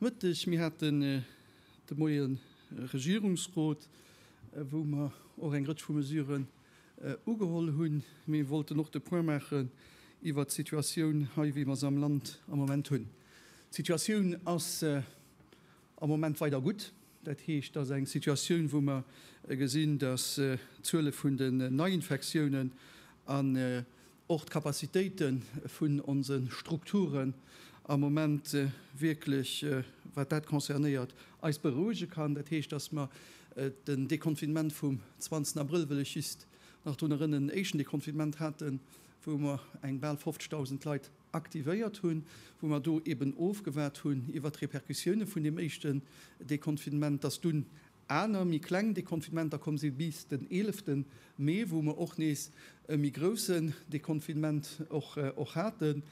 Mëtteg, Mir haten de Moie Regierungsrot, wou mer och eng Rëtsch vu Mesuren ugeholl hunn. Mee wollten och de Point maachen iwwert d'Situatioun hei, wéi mer se am Land am Moment hunn. D'Situatioun ass am Moment weider gutt. Dat heescht, et ass eng Situatioun, wou mer gesinn, datt d'Zuele vun den Neiinfektiounen an och d'Capacitéite vun onse Strukturen am Moment wierklech, wat dat concernéiert, eis berouege kann. Dat heescht, datt mer den Deconfinement vum 20 Abrëll, wëll ech just nach drun erënnen, en éischten Deconfinement haten, wou mer eng bal 50.000 Leit aktivéiert hunn, wou mer do eeben ofgewaart hunn iwwert d'Repercussioune vun deem éischten Deconfinement, datt dunn Aner méi kleng Deconfinementer komm si bis den 11 Mee, wou mer och nees e méi groussen Deconfinement och haten.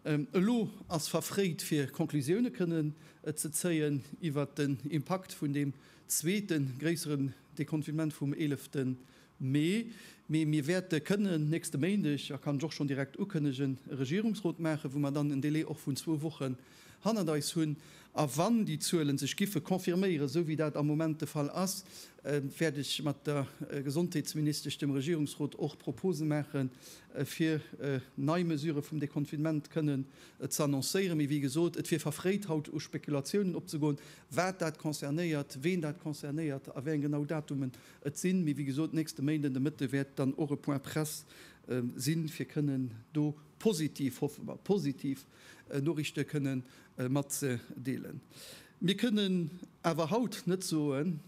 Elo ass verfréit fir Conclusioune kënnen ze zéien iwwert den Impakt vun deem zweete gréisseren Deconfinement vum 11 Mee, mee mir wäerte kënnen nächste Méindeg, a kann ech och schonn direkt ukënnegen, e Regierungsrot maachen, wou mer dann en Délai och vun zwou Wochen hannert eis hunn. A wann déi Zuele sech giffe confirméieren, esou wéi dat am Moment de Fall ass, wäert ech mat der Gesondheetsministesch dem Regierungsrot och Propose maachen, fir nei Mesurë vum Deconfinement kënnen ze annoncéieren. Mee wéi gesot, et wier verfréit haut u Spekulatiounen opzegoen, wat dat concernéiert, ween dat concernéiert a wéi eng genau Datumen Et sinn, mee wéi gesot, nächste Méinden de Mëtte wäert dann och e Point presse sinn, fir kënnen do positiv, hoffe mer, positiv Noriichte kënne matzedeelen. Mir kënnen awer haut net soen,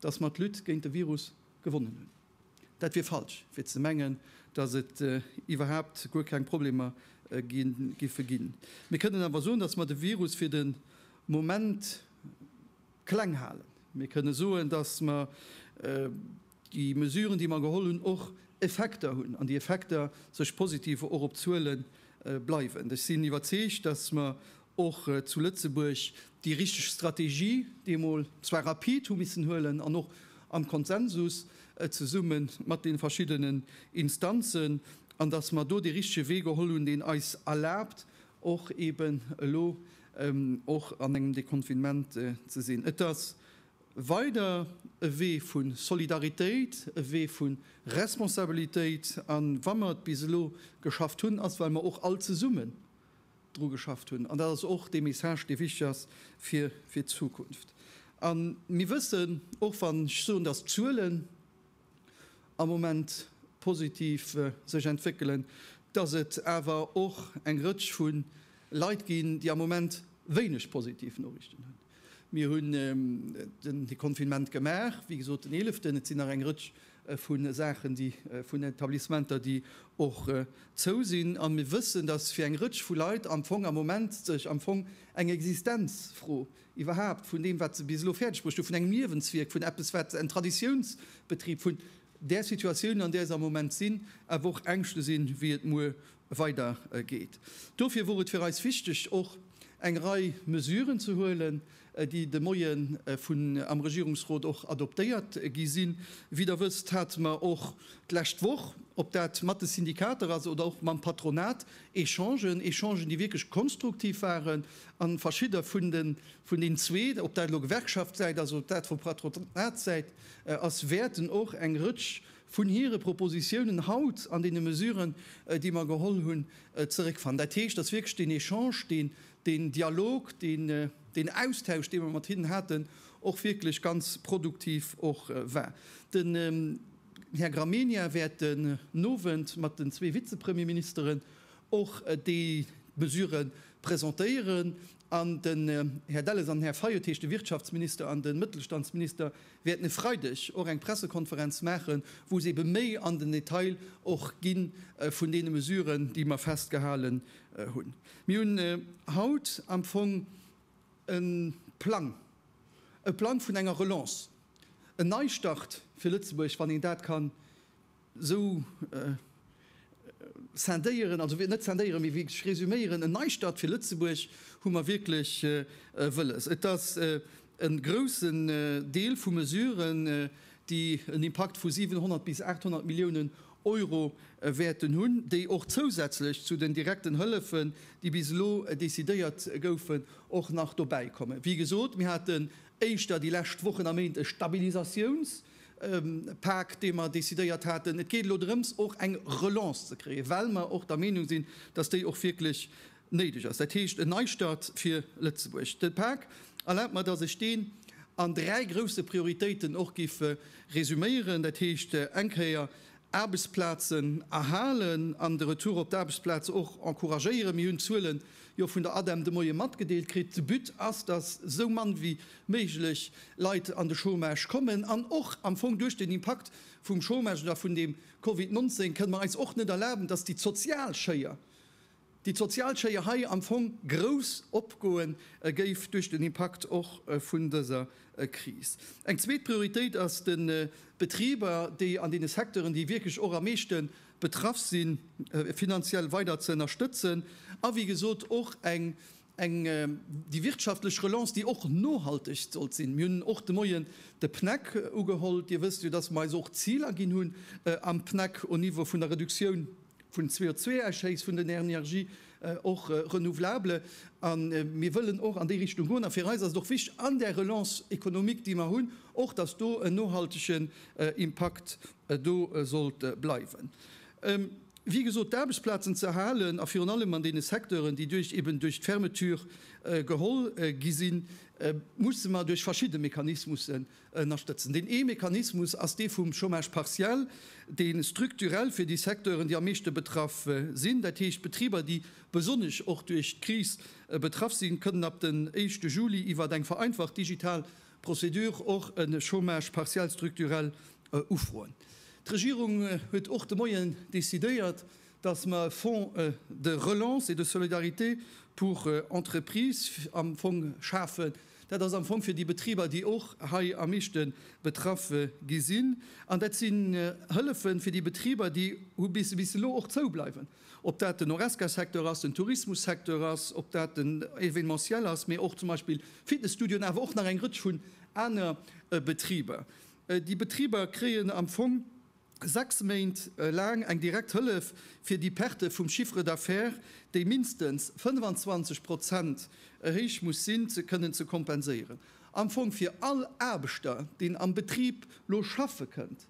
dass mer d'Lutte géint de Virus gewonnen hunn. Dat wier falsch, fir ze mengen, dass et iwwerhaupt guer keng Problemer giffe ginn. Mir kënnen awer soen, dass mer de Virus fir de Moment kleng halen. Mir kënne soen, dass mer déi Mesuren, déi mer geholl hunn, och Effekter hunn an déi Effekter sech positiv och op d'Zuele bleiwen. Ech sinn iwwerzeegt, dass mer och zu Lëtzebuerg déi richteg Strategie deemol zwar rapid hu missen huelen an och am Konsensus zesumme mat deene verschiddenen Instanzen, an dass mer do dee richtege Wee geholl hunn, deen eis erlaabt och eben elo och an engem Deconfinement ze sinn. Et ass weider e Wee vu Solidaritéit, e Wee vu Responsabilitéit. A wa mer et bis elo geschafft hunn, ass well mer och all zesummen dru geschafft hunn. An dat ass och dee Message, dee wichteg ass fir d'Zukunft. A mir wëssen, och wann ech soen, datt d'Zuelen, am Moment positiv sech entwéckelen, dass et awer och eng Rëtsch vu Leit ginn, déi am Moment wéineg positiv Noriichten hunn. Mir hunn den Deconfinement gemaach, wéi gesot den Eeleften. Et sinn nach eng Rëtsch vu Saachen, déi vun Etablissementer, déi och zou sinn. A mir wëssen, dass fir eng Rëtsch vu Leit am Fong am Moment sech am Fong eng Existenzfro iwwerhaapt vun deem, wat se bis elo fäerdegbruecht hu, vun engem Liewenswierk, vun eppes, wat en Traditiounsbetrib, vun där Situatioun, an där se am Moment sinn, awer och Ängschte sinn, wéi et muer weidergeet. Dofir wor et fir eis wichteg, och eng Rei Mesuren ze huelen, déi de Moie vun am Regierungsrot och adoptéiert gi sinn. Wéi Der wësst, hate mer och d'lescht Woch, ob dat mat de Syndikater ass oder och mam Patronat, Echangen, Echangen, déi wierklech konstruktiv waren, A verschidde vun den, vun den zwee, ob dat elo Gewerkschaftssäit ass oder dat vu Patronatssäit ass, wäerten och eng Rëtsch vun hire Propositionen haut an deene Mesuren, déi mer geholl hunn, zeréckfannen. Dat heescht, dass wierklech deen Echange, deen, deen Dialog, deen, deen Austausch, dee mer mat hinnen haten, och wierklech ganz produktiv och war. Den Här Gramegna wäert den Owend mat den zwee Vizepremierministeren och déi Mesure presentéieren an den Här Delles an den Här Fayot, dat heescht de Wirtschaftsminister an de Mëttelstandsminister, wäerten e Freideg och eng Pressekonferenz maachen, wou se ebe méi an den Detail och gi vun deene Mesuren, déi mer festgehalen hunn. Mir hunn haut am Fong e Plang, e Plang vun enger Relance, en Neistart fir Lëtzebuerg, wann een dat ka Sou scindéieren, also net scindéieren, mee wierklech resüméieren, en Neistart fir Lëtzebuerg hu mer wierklech wëlles. Et ass e groussen Deel vu Mesuren, déi en Impakt vu 700 bis 800 Milliounen Euro wäerten hunn, déi och zousätzlech zu den direkten Hëllefen, déi bis elo decidéiert goufen, och nach dobäikommen. Wéi gesot, mir haten éischter déi lescht Wochen a Méint e Stabilisatiounspaket, Pak, dee mer decidéiert haten. Et geet elo drëms, och eng Relance ze kréien, well mer och der Meenung sinn, dass déi och wierklech néideg ass, dat heescht en Neistart fir Lëtzebuerg. De Pak, erlaabt mer, dass ech deen an dräi grousse Prioritéiten och géif resuméieren, dat heescht eng Kéier Aarbechtsplazen erhalen an de Retour op d'Aarbechtsplaz och encouragéieren. Mir hunn d'Zuele jo vun der ADEM de Moie matgedeelt kritt. De But ass, dass esou mann wéi méiglech Leit an de Chômage kommen. An och am Fong duerch den Impakt vum Chômage oder vun deem Covid 19 kënne mer eis och net erlaben, dass déi d'sozial Schéier déi d'sozial Schéier hei am Fong grouss opgoe géif duerch den Impakt och vun dëser Kris. Eng zweet Prioritéit ass de Betriber, déi an deene Secteuren, déi wierklech och am meeschte betraff sinn, finanziell weider ze ënnerstëtzen a wéi gesot och eng Eng déi wirtschaftlech Relance, déi och nohalteg sollt sinn. Mir hunn och de Moien de PNAC ugeholl. Dir wësst jo, dass mer eis och Ziler ginn hunn am PNAC au Niveau vun der Reduktioun vun CO2-Ausschéiss vun den Energien, och renouvelable. A mir wëllen och an déi Richtung goen. A fir eis ass et och wichtig an där Relance économique, déi mer hunn, och dass do en nohaltegen Impakt do sollt bleiwen. wéi gesot, d'Aarbechtsplazen ze erhalen a virun allem an deene Secteuren, déi duerch eben duerch d'Fermeture geholl gi sinn, musse mer duerch verschidde Mechanismussen ënnerstëtzen. Deen ee Mechanismus ass dee vum Chômage partiel, dee strukturell fir déi Secteuren, déi am meeschte betraff sinn, dat heescht d'Betriber, déi besonnesch och duerch d'Kris betraff sinn, kënnen ab den éischte Juli iwwert eng vereinfacht digital Procédure och e Chômage partiel structurel ufroen. D'Regierung huet och de Moien decidéiert, dass mer e Fonds de relance et de solidarité pour entreprises am Fong schafen. Dat ass am Fong fir déi Betriber, déi och hei am meeschte betraff gi sinn. An dat sinn Hëllefe fir déi Betriber, déi bis elo och zoubleiwen. Ob dat den Horesca-Secteur ass, den Tourismus-Secteur ass, ob dat den Événementiel ass, mee och zum Beispill Fitnessstudioen, awer och nach eng Rëtsch vun aner Betriber. Déi Betriber kréien am Fong sechs Méint laang eng direkt Hëllef, fir déi Perte vum Chiffre d'affaires, déi mindestens 25 Prozent héich muss sinn, ze kënnen ze kompenséieren. Am Fong fir all Aarbechter, deen am Betrib lo schaffe kënnt,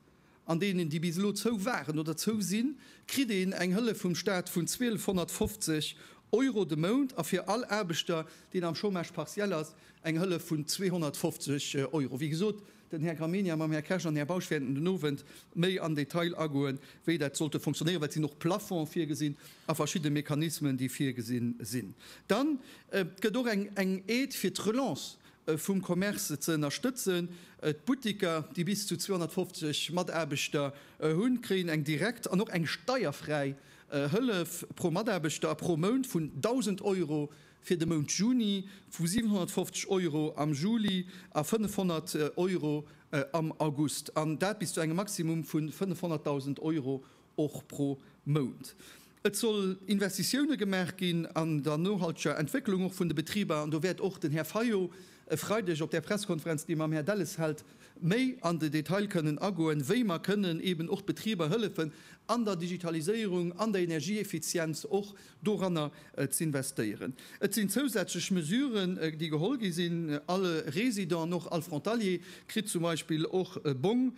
An deenen, déi bis elo zou waren oder zou sinn, kritt een eng Hëllef vum Staat vun 1250 Euro de Mount a fir all Aarbechter, deen am Chômage partiel ass, eng Hëllef vun 250 Euro. Wéi gesot, den Här Gramegna mam Här Kersch an Här Bausch wäerten den Owend méi am Detail agoen, wéi dat sollte fonctionnéieren, well et sinn och Plafonds virgesinn a verschidde Mechanismen, déi virgesinn sinn. Dann gëtt och eng Aide fir d'Relance vum Commerce ze ënnerstëtzen. D'Buttiker, déi bis zu 250 Mataarbechter hunn, kréien eng direkt an och eng steierfräi Hëllef pro Mataarbechter a pro Mount vun 1.000 Euro fir de Mount Juni, vu 750 Euro am Juli a 500 Euro am August, an dat bis zu engem Maximum vu 500.000 Euro. och pro Mount. Et soll Investitioune gemaach ginn an der nohalteger Entwécklung och vun de Betriber, an do wäert och den Här Fayot e Freideg op där Pressekonferenz, déi e mam Här Delles hält, méi an de Detail kënnen agoen, wéi mer kënnen eeben och d'Betriber hëllefen an der Digitaliséierung, an der Energieeffizienz och. doranner z'investéieren. Et sinn zousätzlech Mesuren, déi geholl gi sinn, All Résident, och all Frontalier, kritt zum Beispill och e Bong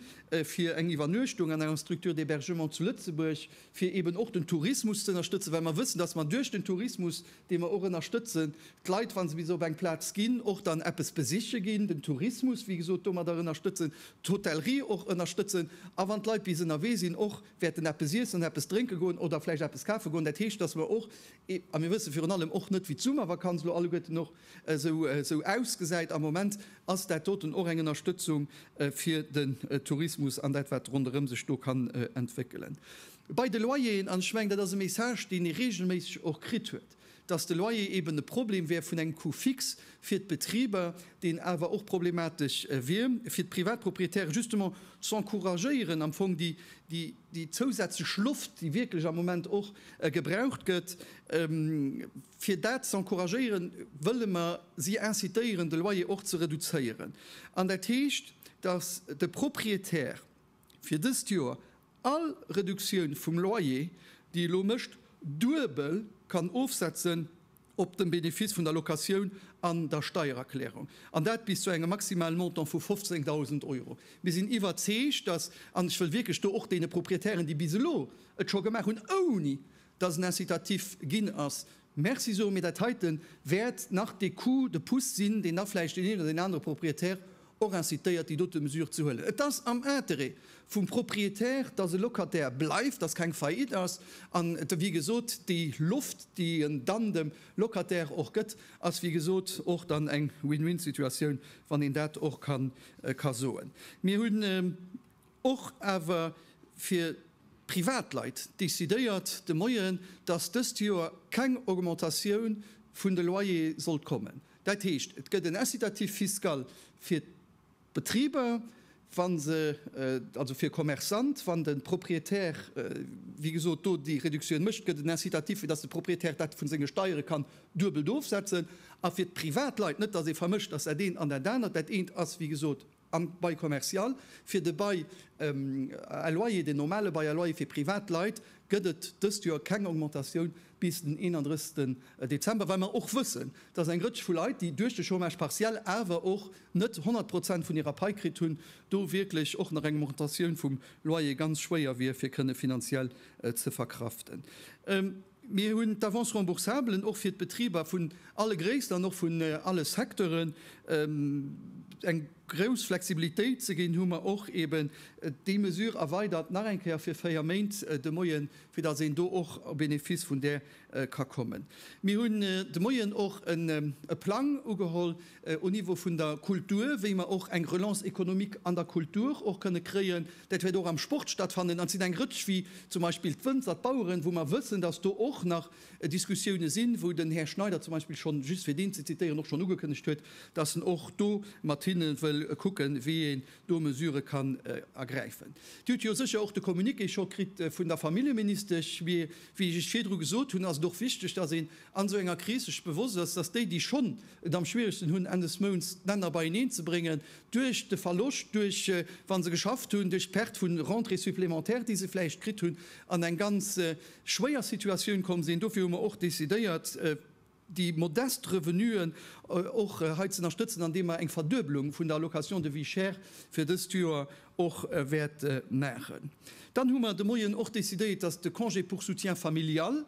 fir eng Iwwernuechtung an enger Structure d'hébergement zu Lëtzebuerg, fir eeben och den Tourismus ze ënnerstëtzen, well mer wëssen, dass mer duerch den Tourismus, dee mer och ënnerstëtzen, d'Leit, wa se bis op eng Plaz ginn, och dann eppes besiche ginn, den Tourismus, wéi gesot, domadder ënnerstëtzen, d'Hotellerie och ënnerstëtzen a wann d'Leit bis ënnerwee sinn, och wäerten eppes iessen an eppes drénke goen oder vläicht eppes kafe goen. Dat heescht, dass mer och, a mir wësse virun allem och net, wéi d'Summervakanz elo alleguerten och esou ausgesäit, am Moment ass dat doten och eng Ënnerstëtzung fir den Tourismus an dat, wat ronderëm sech do kann entwéckelen. Bei de Loyeren, an ech mengen, dat ass e Message, deen ee reegelméisseg och kritt huet, dass de Loyer eben e Problem wär vun engem Coût fixe fir d'Betriber, deen awer och problematesch wier fir d'Privatproprietären, justement z'encouragéieren am Fong déi zousätzlech Loft, déi wierklech am Moment och gebraucht gëtt, fir dat z'encouragéieren, wëlle mer si incitéieren, de Loyer och ze reduzéieren. An dat heescht, dass de Proprietär fir dëst Joer All Reduktioun vum Loyer, déi elo mécht, duebel kann ofsetzen op de Benefice vun der Locatioun an der Steiererklärung, an dat bis zu engem maximalen Montant vu 15.000 Euro. Mir sinn iwwerzeegt, dass, an ech wëll wierklech do och deene Proprietären, déi bis elo et scho gemaach hunn, ouni dass en incitatif ginn ass, Merci soe mir. Dat heite wäert nach dee Coup de pouce sinn, deen da vläicht deen een oder deen anere Propriétaire och incitéiert, déi dote Mesure ze huelen. Et ass am Intérêt vum Propriétaire, dass e Locataire bleift, dass keng Faillite ass an, wéi gesot, déi Loft, déi en dann dem Locataire och gëtt, ass, wéi gesot, och dann eng Win-win-Situatioun, wann een dat och ka soen. Mir hunn. Och awer fir d'Privatleit decidéiert de Moien, dass dëst Joer keng Augmentatioun vun de Loyere sollt kommen. Dat heescht, et gëtt en Incitatif fiscal fir d'Betriber, wann se, also fir Commerçante, wann de Propriétaire, wéi gesot, do déi Reduktioun mécht, gëtt en Incitatif, fir dass de Propriétaire dat vu senge Steiere kann duebelt ofsetzen. A fir d'Privatleit, net dass ee vermëscht, dass dat eent an dat anert, dat eent ass, wéi gesot, Am Bail commercial, fir de Bail à loyer, den normale Bail à loyer fir privat Leit, gëtt et dëst Joer keng Augmentatioun bis den 31 Dezember, well mer och wëssen, dass eng Rëtsch vu Leit, déi duerch de Chômage partiel awer och net 100 Prozent vun hirer Pai kritt hunn, do wierklech och nach eng Augmentatioun vum Loyer ganz schwéier wier fir kënne finanziell ze verkraften. Mir hunn d'Avance remboursablen och fir d'Betriber vun alle Gréisst an och vun alle Secteuren eng grouss Flexibilitéit ze ginn, hu mer och eeben déi Mesure erweidert nach eng Kéier fir véier Méint de Moien, fir datt een do och au bénéfice vun där ka kommen. Mir hunn de Moien och e Plang ugeholl au Niveau vun der Kultur, wéi mer och eng Relance économique an der Kultur och kënne kréien. Dat wäert och am Sport stattfannen an et sinn eng Rëtsch wéi zum Beispill d'Wënzer, d'Baueren, wou mer wëssen, dass do och nach Diskussioune sinn, wou den Här Schneider zum Beispill schonn, just fir deen ze zitieren, och schonn ugekënnegt huet, dass en och do mat hinne wëll kucken, wéi een do Mesurë kann ergräifen. Dir hutt jo sécher och de Communiqué scho kritt vun der Familljeministesch. Mee wéi ech Iech virdru gesot hunn, ass et och wichteg, dass een an esou enger Kris sech bewosst ass, dass déi, déi schonn et am schwieregsten hunn, Enn des Mounts d'Länner beieneen ze bréngen, duerch de Verloscht, duerch, wa se geschafft hunn, duerch d'Perte vu Rentrées supplémentaires, déi se vläicht kritt hunn, an eng ganz schwéier Situatioun komm sinn. Dofir hu mer och decidéiert, déi modest Revenuen och hei ze ënnerstëtzen, andeem mer eng Verduebelung vun der Allocation de vie chère fir dëst Joer och wäerte maachen. Dann hu mer de Moien och decidéiert, dass de Congé pour soutien familial,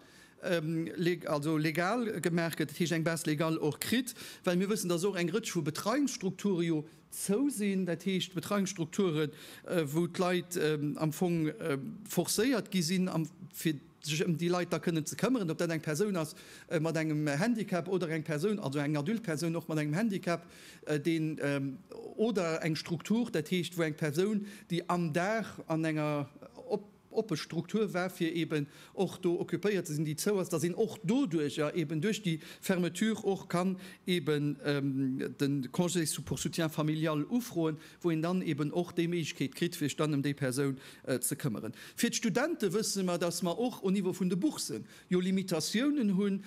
also legal gemaach gëtt, dat heescht eng Base légale och kritt, well mir wëssen, dass och eng Rëtsch vu Betreiungsstrukture jo zou sinn, dat heescht Betreiungsstrukture wou d'Leit am Fong forcéiert gi sinn, fir sech ëm déi Leit da kënnen ze këmmeren, ob dat eng Persoun ass mat engem Handicap oder eng Persoun, also eng adulte Persoun och mat engem Handicap, deen oder eng Struktur, dat heescht wou eng Persoun, déi am Dag an enger, oppe Struktur war, fir eben och do occupéiert ze sinn, déi zou ass, datt een och doduerjer eben duerch déi Fermeture och kann eben de Congé pour soutien familial ufroen, wou een dann eben och déi Méiglechkeet kritt, sech dann ëm déi Persoun ze këmmeren. Fir d'Studente wësse mer, datt mer och au Niveau vun de Bourssen jo Limitatiounen hu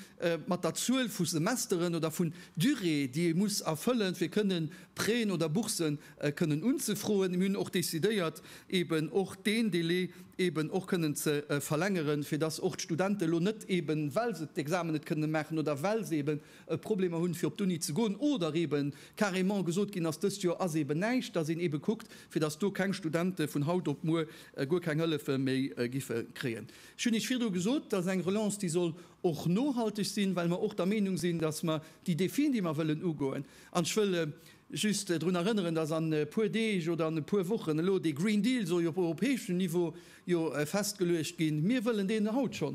mat der Zuel vu Semesteren oder vun Durée, déi ee muss erfëllen, fir kënnen Prêten oder Bourssen kënnen unzefroen. Mir hunn och décidéiert, eeben och deen Délai eeben och kënnen ze verlängeren, fir dass och d'Studenten elo net eeben, well se d'Examen net kënnen maachen oder well se eeben Problemer hunn, fir op d'Uni ze goen, oder eeben carrément gesot ginn ass, dëst Joer ass eeben näischt, dass een eebe kuckt, fir dass do keng Studenten vun haut op muer guer keng Hëllefe méi giffe kréien. Ech hunn Iech virdru gesot, dass eng Relance, déi soll och nohalteg sinn, well mer och der Meenung sinn, dass mer déi Défien, déi mer wëllen ugoen, an ech wëll Just drun erënneren, dass an e puer Deeg oder an e puer Wochen elo dee Green Deal soll jo op europäeschem Niveau jo festgeluecht ginn. Mir wëllen deen haut scho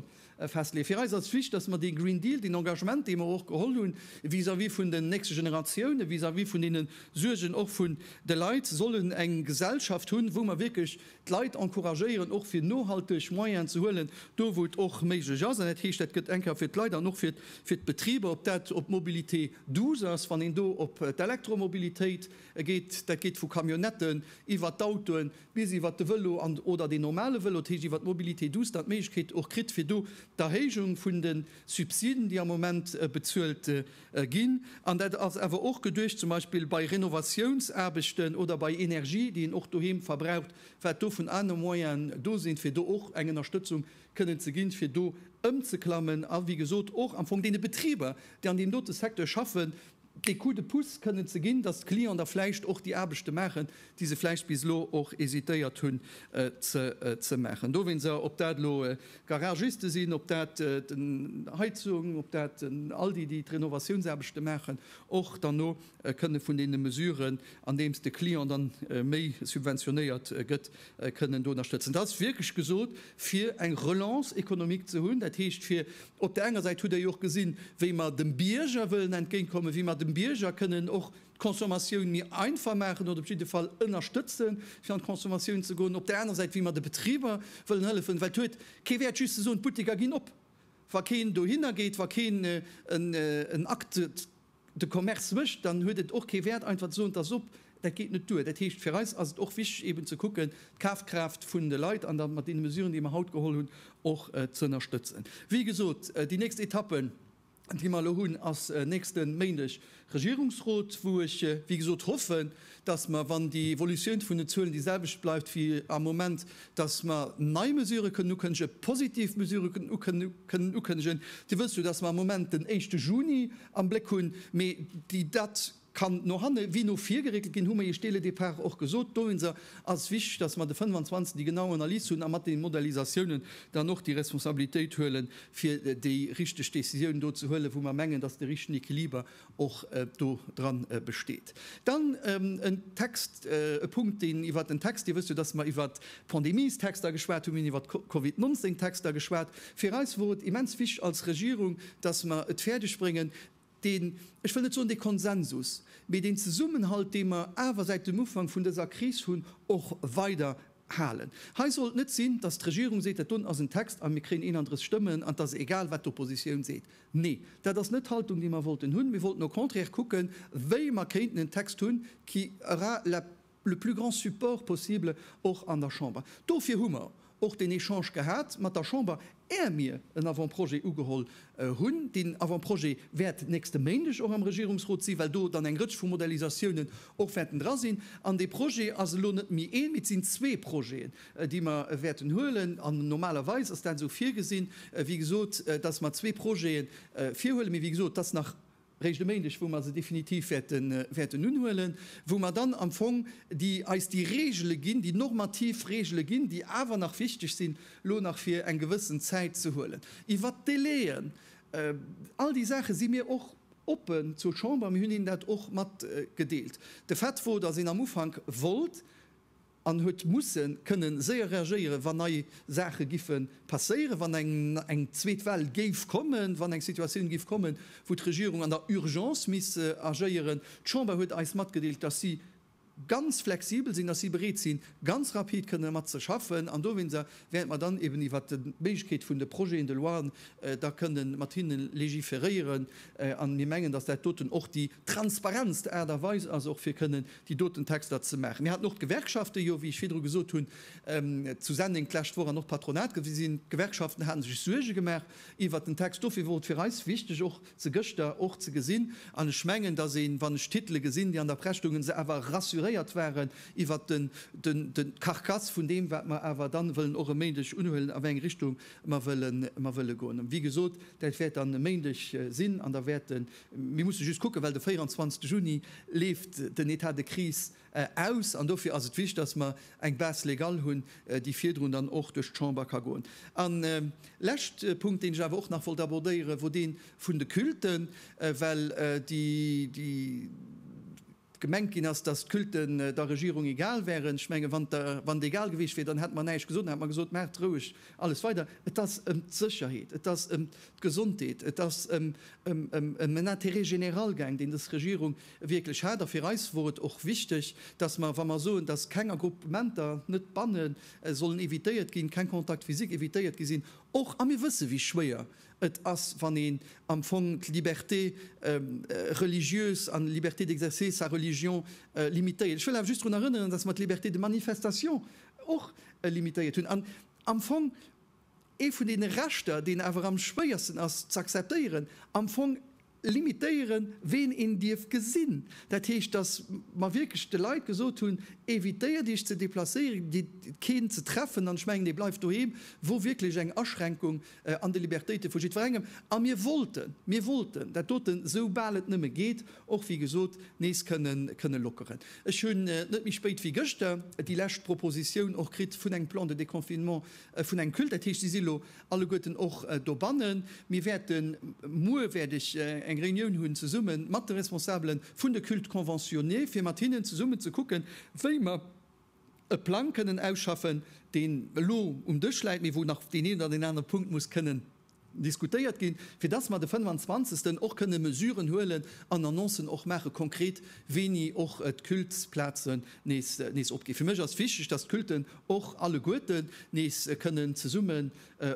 festleeën. Fir eis ass d'Flicht, dass mer dee Green Deal, deen Engagement, dee mer och geholl hunn vis-à-vis vun den nächste Generatiounen, vis-à-vis vun deene Suergen och vun de Leit, sollen eng Gesellschaft hunn, wou mer wierklech d'Leit encouragéieren och fir nohalteg Moyenen ze huelen, do wou et och méiglech ass. An dat heescht, dat gëtt eng Kéier fir d'Leit an och fir d'Betriber, ob dat op d'Mobilité douce ass, wann een do op d'Elektromobilitéit geet, dat geet vu Camionnetten iwwer d'Autoen bis iwwer de Vëlo an oder deen normale Vëlo, dat heescht iwwer d'Mobilité douce dann d'Méiglechkeet och kritt fir do d'Erhéijung vun de Subsiden, déi am Moment bezuelt ginn, an dat ass awer och geduecht zum Beispill bei Renovatiounsaarbechten oder bei Energie, déi een och doheem verbraucht, wat do vun anere Moyenen do sinn, fir do och eng Ënnerstëtzung kënnen ze ginn, fir do ëmzeklammen a wéi gesot och am Fong deene Betriber, déi an deem dote Secteur schaffen, dee Coup de pouce kënnen ze ginn, dass d'Clienten da vläicht och déi Aarbechte maachen, déi se vläicht bis elo och hesitéiert hunn ze maachen. Dowéinst op dat elo D'Garagiste sinn, ob dat d'Heizung, ob dat all déi, déi d'Renovatiounsaarbechte maachen, och derno kënne vun deene Mesuren, andeems de Client dann méi subventionéiert gëtt, kënnen do ënnerstëtzen. Dat ass wierklech gesot, fir eng Relance économique ze hunn. Dat heescht, fir op där enger Säit, hutt Der jo och gesinn, wéi mer dem Bierger wëllen entgéintkommen, wéi mer dem Bierger kënnen och, d'Consommatioun méi einfach maachen oder op jidde Fall ënnerstëtze fir an d'Consommatioun ze goen, op där anerer Säit wéi mer de Betriber wëllen hëllefen, well et huet kee Wäert just ze soen, d'Butteker ginn op, wa keen dohinner geet, wa keen en Acte de commerce mécht, dann huet et och kee Wäert einfach ze soen, et ass op. Dat geet net duer. Dat heescht, fir eis ass et och wichteg eeben ze kucken, d'Kafkraaft vun de Leit an da mat deene Mesuren, déi mer haut geholl hunn, och z'ënnerstëtzen. Wéi gesot, déi nächst Etappe déi mer elo hunn, ass nächste Méindeg Regierungsrot, wou ech, wéi gesot, hoffen, dass mer, wann déi Evolutioun vun den Zuelen déi selwecht bleift wéi am Moment, dass mer nei Mesurë kënnen ukënnege, positiv Mesurë kënnen ukënnegen. Dir wësst jo, dass mer am Moment den éischte Juni am Bléck hunn, mee déi dat, Kann no hanne wéi no vir geréckelt ginn, hu mer Iech dele Départ och gesot. Dowéinster ass et wichteg, dass mer de 25 déi genau Analys hunn a mat deene Modalisatiounen dann och déi Responsabilitéit huelen, fir déi richteg Décisioun do ze huelen, wou mer mengen, dass de richtegen Equiliber och do dra besteet. Dann en Text, e Punkt, deen iwwert en Text, Dir wësst jo, dass mer iwwert d'Pandemiestexter geschwat hunn, mir hunn iwwert d'Covid 19 Texter geschwat. Fir eis wor et immens wichteg als Regierung, dass mer et fäerdegbréngen, deen, ech wëll net soen dee Konsensus, mee deen Zesummenhalt, dee mer awer säit dem Ufank vun dëser Kris hunn, och weider halen. Hei soll et net sinn, dass d'Regierung seet, dat do ass en Text a mir kréien 31 Stëmmen an et ass egal, wat d'Oppositioun seet. Nee, dat ass net d'Haltung, déi mer wollten hunn. Mir wollten au contraire kucken, wéi mer kéinten en Text hunn, qui aura la le plus grand support possible och an der Chamber. Dofir hu mer och deen Echange gehat mat der Chamber, är mir en Avant-projet ugeholl hunn. Deen Avant-projet wäert nächste Méindeg och am Regierungsrot sinn, well do dann eng Rëtsch vu Modalisatiounen och wäerten dra sinn. An dee Projet ass elo net méi een, mee et sinn zwee Projeten, déi mer wäerten huelen. An normalerweis ass dat esou virgesinn, wéi gesot, dass mer zwee Projete virhuelen. Mee wéi gesot, et ass nach réischt e Méindeg, wou mer se definitiv wäerten unhuelen, wou mer dann am Fong eis déi Reegele ginn, déi normativ Reegele ginn, déi awer nach wichteg sinn, elo nach fir eng gewëssen Zäit ze huelen. Iwwert d'Délai'en, all déi Saache si mir och oppen zur Chamber, mir hunn hinnen dat och matgedeelt. De Fait wor, dass een am Ufank wollt, an huet musse kënnen séier reagéieren, wann nei Saache giffe passéieren, wann eng zweet Well géif kommen, wann eng Situatioun géif kommen, wou d'Regierung an der Urgence misst agéieren. D'Chamber huet eis matgedeelt, dass si ganz flexibel sinn, dass si bereet sinn, ganz rapid kënnen domat ze schaffen an dowéinst während mer dann eben iwwert d'Méiglechkeet vun de Projets de loien da kënne mat hinne légiféréieren. A mir mengen, dass dat doten och déi transparentst Aart a Weis ass, och fir kënnen déi doten Texter ze maachen. Mir haten och d'Gewerkschaften jo, wéi ech virdru gesot hunn, zu Senneng d'lescht Woch an och d'Patronat gesinn. D'Gewerkschaften hate sech Suerge gemaach iwwert den Text. Dofir wor et fir eis wichteg och, se gëschter och ze gesinn, an ech mengen, dass een, wann ech d'Titele gesinn, déi an der Press stoungen, se awer rassuréiert waren iwwert den, den, den, d'Carcasse vun deem, wat mer awer dann wëllen och e Méindeg unhuelen, a wéi eng Richtung mer wëllen, mer wëlle goen. Wéi gesot, dat wäert dann e Méindeg sinn, an da wäerten, mir musse just kucken, well de 24 Juni leeft den État de crise, aus, an dofir ass et wichtig, dass mer eng Base légale hunn, déi virdrun dann och duerch d'Chamber ka goen. En lescht Punkt, deen ech awer och nach wollt abordéieren, wor dee vun de Culten, well déi gemengt ginn ass, dass d'Culten der Regierung egal wären. Ech menge wann et egal gewiescht wier, dann hätte mer näischt gesot, dann hätte mer gesot, Maacht roueg alles weider. Et ass ëm d'Sécherheet, et ass ëm d'Gesondheet, et ass ëm en Intérêt général gaang, deen dës Regierung Wierklech haart. A fir eis wor et och wichteg, dass mer, wa mer soen, dass keng Agruppementer, net banne, sollen evitéiert ginn, keng Contacts physiques evitéiert gi sinn, och, a mir wësse wéi schwéier et ass, wann een am Fong d'Liberté religieuse an d'Liberté d'exercer sa religion limitéiert. Ech wëll awer just drun erënneren, dass mer d'Liberté de manifestation och limitéiert hunn an am Fong, ee vun deene Rechter, deen awer am schwéiersten ass ze akzeptéieren, am Fong limitéieren, ween een dierf gesinn. Dat heescht, datt mer wierklech de Leit gesot hunn, Evitéiert Iech ze deplacéieren, gitt keen ze treffen, an ech mengen, dee bleift doheem, wor wierklech eng Aschränkung an de Libertéite vu jiddwerengem. A mir wollten, mir wollten dat doten, esou bal et nëmme geet, och wéi gesot nees kënne lockeren. Ech hunn net méi spéit wéi gëschter déi lescht Propositioun och kritt vun engem Plan de déconfinement Vun engem Culte, dat heescht, si si lo alleguerten och dobannen. Mir wäerten, muer wäert ech eng Reunioun hunn zesumme mat de Responsabele vun de Cultes conventionnés, fir mat hinnen zesummen ze kucken, wéi mer e Plang kënnen ausschaffen, deen elo um Dësch läit, mee wou nach deen een oder deen anere Punkt muss kënnen diskutéiert ginn, fir dass mer de 25. och kënne Mesuren huelen an Annoncen och maache konkret, wéini och d'Cultesplazen nees opginn. Fir mech ass wichteg, dass d'Culten och alleguerten nees kënnen zesummen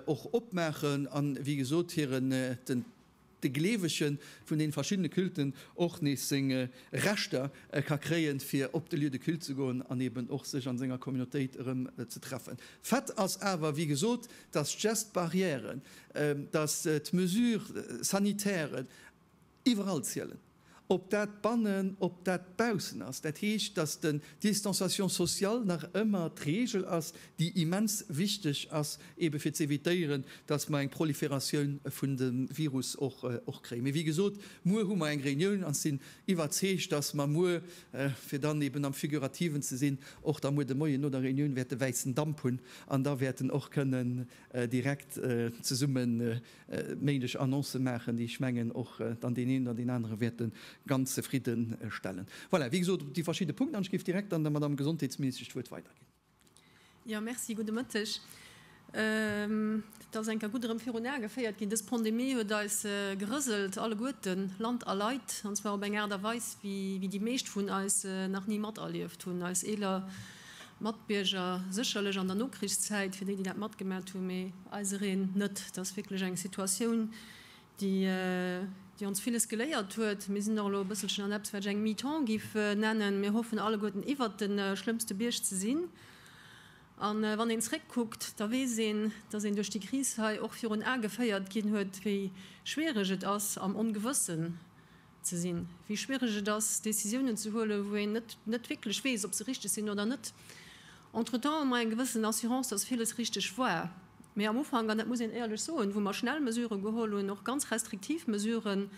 och opmaachen an, wéi gesot, hiren, de Gleewege vun deene verschiddene Culten, och nees seng Rechter ka kréien, fir op de Lieu de culte ze goen an eeben och sech a senger Communautéit erëm ze treffen. Fait ass awer, wéi gesot, dass d'Gestes barrièren, dass d'Mesures sanitairen iwwerall zielen, ob dat bannen, ob dat baussen ass. Dat heescht, dass de Distanciation sociale nach ëmmer d'Regel ass, déi immens wichteg ass, eebe fir z'évitéieren, dass mer eng Prolifératioun vun dem Virus och kréien. Mee wéi gesot, muer hu mer eng Reunioun an ech sinn iwwerzeegt, dass mer muer, fir dann eeben am Figurativen ze sinn, och da muer de Moien no der Reunioun wäerte wäissen Damp hunn, An da wäerten och kënnen direkt zesumme méiglech Annoncë maachen, déi, ech mengen, och dann deen een oder deen anere wäerte ganz zefridde stellen. Voilà, wéi gesot, op déi verschidde Punkten. An ech géif direkt dann der Madamm Gesondheetsministesch d'Wuert weiderginn. Jo, Merci. Gudde Mëtteg. Et ass eng Kéier gutt erëm virun Ae geféiert ginn, Dës Pandemie huet eis gerëselt alleguerten, Land a Leit, an zwar op eng Aart a Weis, wéi déi meescht vun eis nach ni materlieft hunn. Eis eeler Matbierger, sécherlech an der Nokrichszäit, fir déi, déi dat matgemaacht hunn, mee eisereen net. Et ass wierklech eng Situatioun, déi ons villes geléiert huet. Mir sinn och elo e bësselchen an eppes, wat ech eng Mi-temps géif nennen. Mir hoffen alleguerten, iwwert de schlëmmste Bierg ze sinn. A wann een zréckkuckt, da weess een, dass een duerch déi Kris hei och virun Ae geféiert ginn huet, wéi schwiereg et ass am Ongewëssen ze sinn, wéi schwiereg et ass Décisiounen ze huelen, wou een net net wierklech weess, ob se richteg sinn oder net. Entretemps hu mer eng gewëssen Assurance, dass villes richteg war, mee am Ufank, an dat muss een éierlech soen, wou mer schnell Mesuren geholl hunn, och ganz restriktiv Mesuren,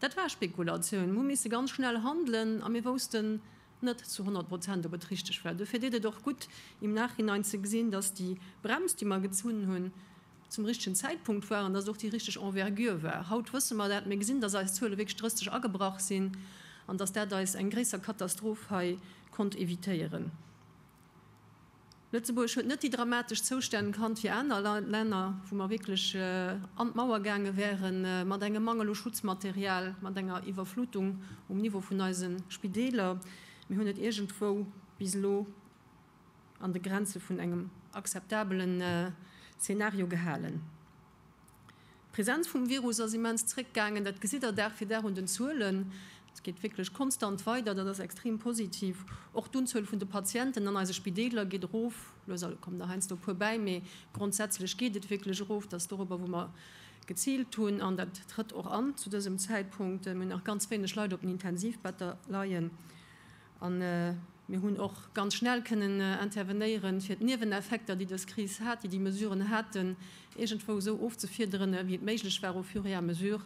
dat war Spekulatioun. Mir hu misse ganz schnell handelen a mir woussten net zu honnert Prozent, ob et richteg war. Dofir deet et och gutt im Nachhinein ze gesinn, dass déi Brems, déi mer gezunn hunn, zum richtegen Zäitpunkt war an dass et och déi richteg Envergure war. Haut wësse mer dat, mir gesinn, dass eis Zuele wierklech drësteg agebrach sinn an dass dat eis eng gréisser Katastroph hei konnt évitéieren. Lëtzebuerg huet net déi dramatesch Zoustänn kannt wéi aner Länner, wou mer wierklech an d'Mauer gaange wäre mat engem Mangel u Schutzmaterial, mat enger Iwwerflutung um Niveau vun eise Spideeler. Mir hunn et iergendwou bis elo. an de Grenze vun engem akzeptabele Szenario gehalen. D'Presenz vum Virus ass immens zréckgaangen, dat gesitt Der Dag fir Dag un den Zuelen. Et geet wierklech konstant weider, dat ass extrem positiv. Och d'Unzuel vun de Patienten an eise Spideeler geet erof. Lues a lues kommen der heiansdo e puer bäi, mee grondsätzlech geet et wierklech erof. Dat ass dorobber, wou mer geziilt hunn, an dat trëtt och an zu dësem Zäitpunkt. Mir hunn nach ganz wéineg Leit op den Intensivbetter leien. A mir hunn och ganz schnell kënnen intervenéieren, fir d'Nieweneffekter, déi dës Kris hat, déi déi Mesuren haten, iergendwou esou ofzefiederen, wéi et méiglech war, au fur et à mesure,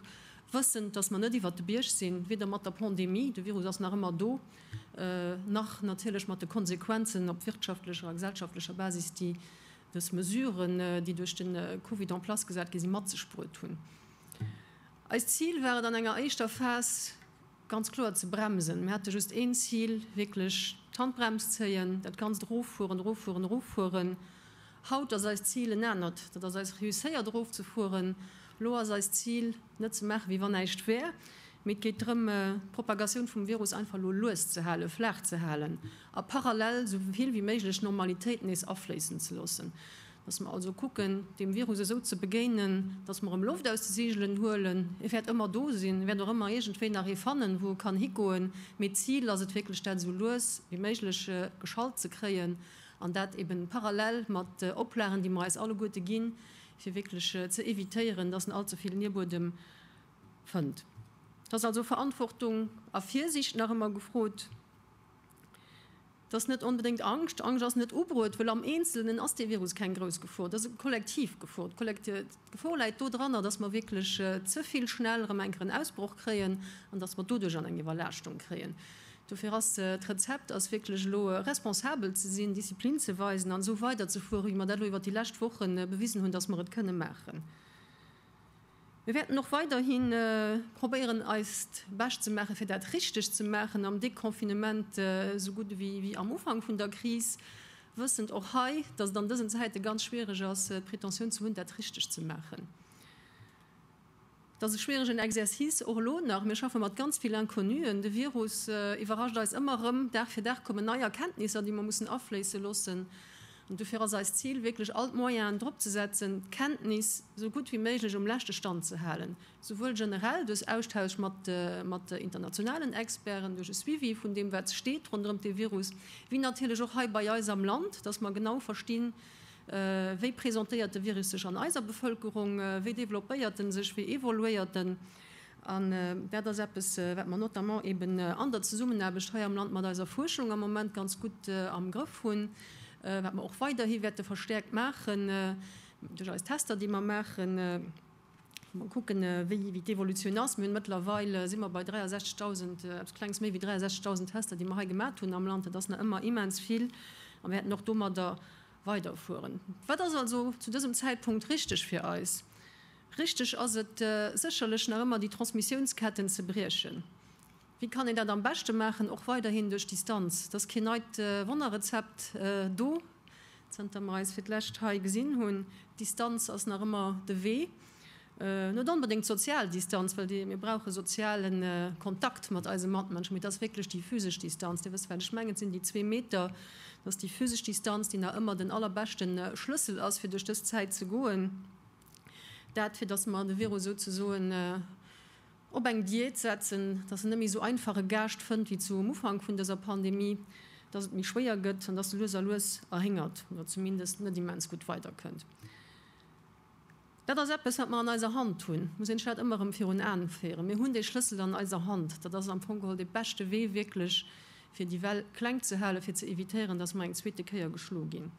wëssend, dass mer net iwwert de Bierg sinn, weder mat der Pandemie, de Virus ass nach ëmmer do, nach natierlech mat de Konsequenzen op wirtschaftlecher a gesellschaftlecher Basis, déi dës Mesuren, déi duerch de Covid en place gesat gi sinn, mat sech bruet hunn. Eist Zil war et an enger éischter Phas, ganz kloer ze bremsen. Mir hate just een Zil, wierklech d'Handbrems zéien, dat ganzt eroffueren, eroffueren, eroffueren. Haut ass eist Zil en anert, dat ass eis reusséiert erofzefueren. Elo ass eist Zil, net ze maache wéi wann näischt wär, mee et geet drëm, d'Propagatioun vum Virus einfach elo lues ze halen, flaach ze halen a parallel esou vill wéi méiglech Normalitéit nees afléissen ze loossen. Dass mer also kucken, deem Virus esou ze begéinen, dass mer em Loft aus de Segelen huelen. E wäert ëmmer do sinn, e wäert och ëmmer iergendwéi nach ee fannen, wou e kann higoen. Mee d'Zil ass et wierklech, dat esou lues wéi méiglech geschallt ze kréien, an dat eebe parallel mat Oplagen, déi mer eis alleguerte ginn, fir wierklech ze evitéieren, dass en all ze vill Nierbuedem fënnt. Dass also Verantwortung a Virsiicht nach ëmmer gefrot. Dat ass net onbedéngt Angscht. Angscht ass net ubruet, wëll am Eenzelnen ass dee Virus keng grouss Gefor. Dat ass eng kollektiv Gefor. D'Gefor läit dodranner, dass mer wierklech ze vill schnell erëm eng Kéier en Ausbroch kréien an dass mer doduerch an eng Iwwerlaaschtung kréien. Dofir ass d'Rezept ass wierklech elo responsabel ze sinn, Disziplin ze weisen an esou weiderzefuere wéi mer dat elo iwwert déi lescht Woche bewisen hunn, dass mer et kënne maachen. Mir wäerten och weiderhi probéieren eist Bescht ze maachen, fir dat richteg ze maachen am Deconfinement esou gutt ewéi am Ufank vun der Kris, wëssend och hei, datt et an dësen Zäite ganz schwiereg ass, d'Pretentioun ze hunn, dat richteg ze maachen. Et ass e schwieregen Exercice, och elo nach. Mir schaffe mat ganz vill Inconnuen. De Virus iwwerrascht eis ëmmer erëm. Dag fir Dag kommen nei Erkenntnisser, déi mer mussen afléisse loossen. Dofir ass eist Zil, wierklech all d'Moyenen drop ze setzen, d'Kenntnis esou gutt wéi méiglech um leschte Stand ze halen, souwuel generell duerch Austausch mat internationalen Experten, duerch e Suivi vun deem, wat steet ronderëm de Virus, wéi natierlech och hei bei eis am Land, dass mer genau verstinn, wéi presentéiert de Virus sech an eiser Bevëlkerung, wéi developpéiert en sech, wéi evoluéiert en. An dat ass eppes, wat mer notamment eeben an der Zesummenaarbecht hei am Land mat eiser Fuerschung am Moment ganz gutt am Grëff hunn, wat mer och weiderhi wäerte verstäerkt maachen duerch eis Tester, déi mer maachen, wou mer kucken, wéi d'Evolutioun ass. Mir hunn mëttlerweil, si mer bei 63.000, eppes Klenges méi wéi 63.000 Tester, déi mer hei gemat hunn am Land. Dat ass nach ëmmer immens vill a mir wäerten och domadder weiderfueren. Wat ass also zu dësem Zäitpunkt richteg fir eis? Richteg ass et sécherlech nach ëmmer, déi Transmissiounsketten ze briechen. Wéi kann een dat am beschte maachen? Och weiderhin duerch Distanz. Et ass keen neit Wonnerrezept do, zanter mer eis fir d'lescht hei gesinn hunn. D'Distanz ass nach ëmmer de Wee. Net onbedéngt d'sozial Distanz, well mir brauche soziale Kontakt mat eise Matmënschen, mee et ass wierklech déi physesch Distanz. Dir wësst, wat ech mengen, et sinn déi zwee Meter. Et ass déi physesch Distanz, déi nach ëmmer den allerbeschte Schlëssel ass, fir duerch dës Zäit ze goen. Dat, fir datt mer de Virus souzesoen op eng Diät setzen, datt en net méi esou einfach e Gaascht fënnt wéi zu um Ufank vun dëser Pandemie, datt et méi schwéier gëtt an datt e lues a lues erhéngert oder zumindest net immens gutt weiderkënnt. Dat ass eppes, wat mer an eiser Hand hunn. Et muss een sech dat ëmmer erëm virun Aen féieren. Mir hunn dee Schlëssel an eiser Hand. Dat ass am Fong geholl dee beschte Wee wierklech, fir déi Well kleng ze halen, fir ze evitéieren, datt mer eng zweete Kéier geschlo ginn.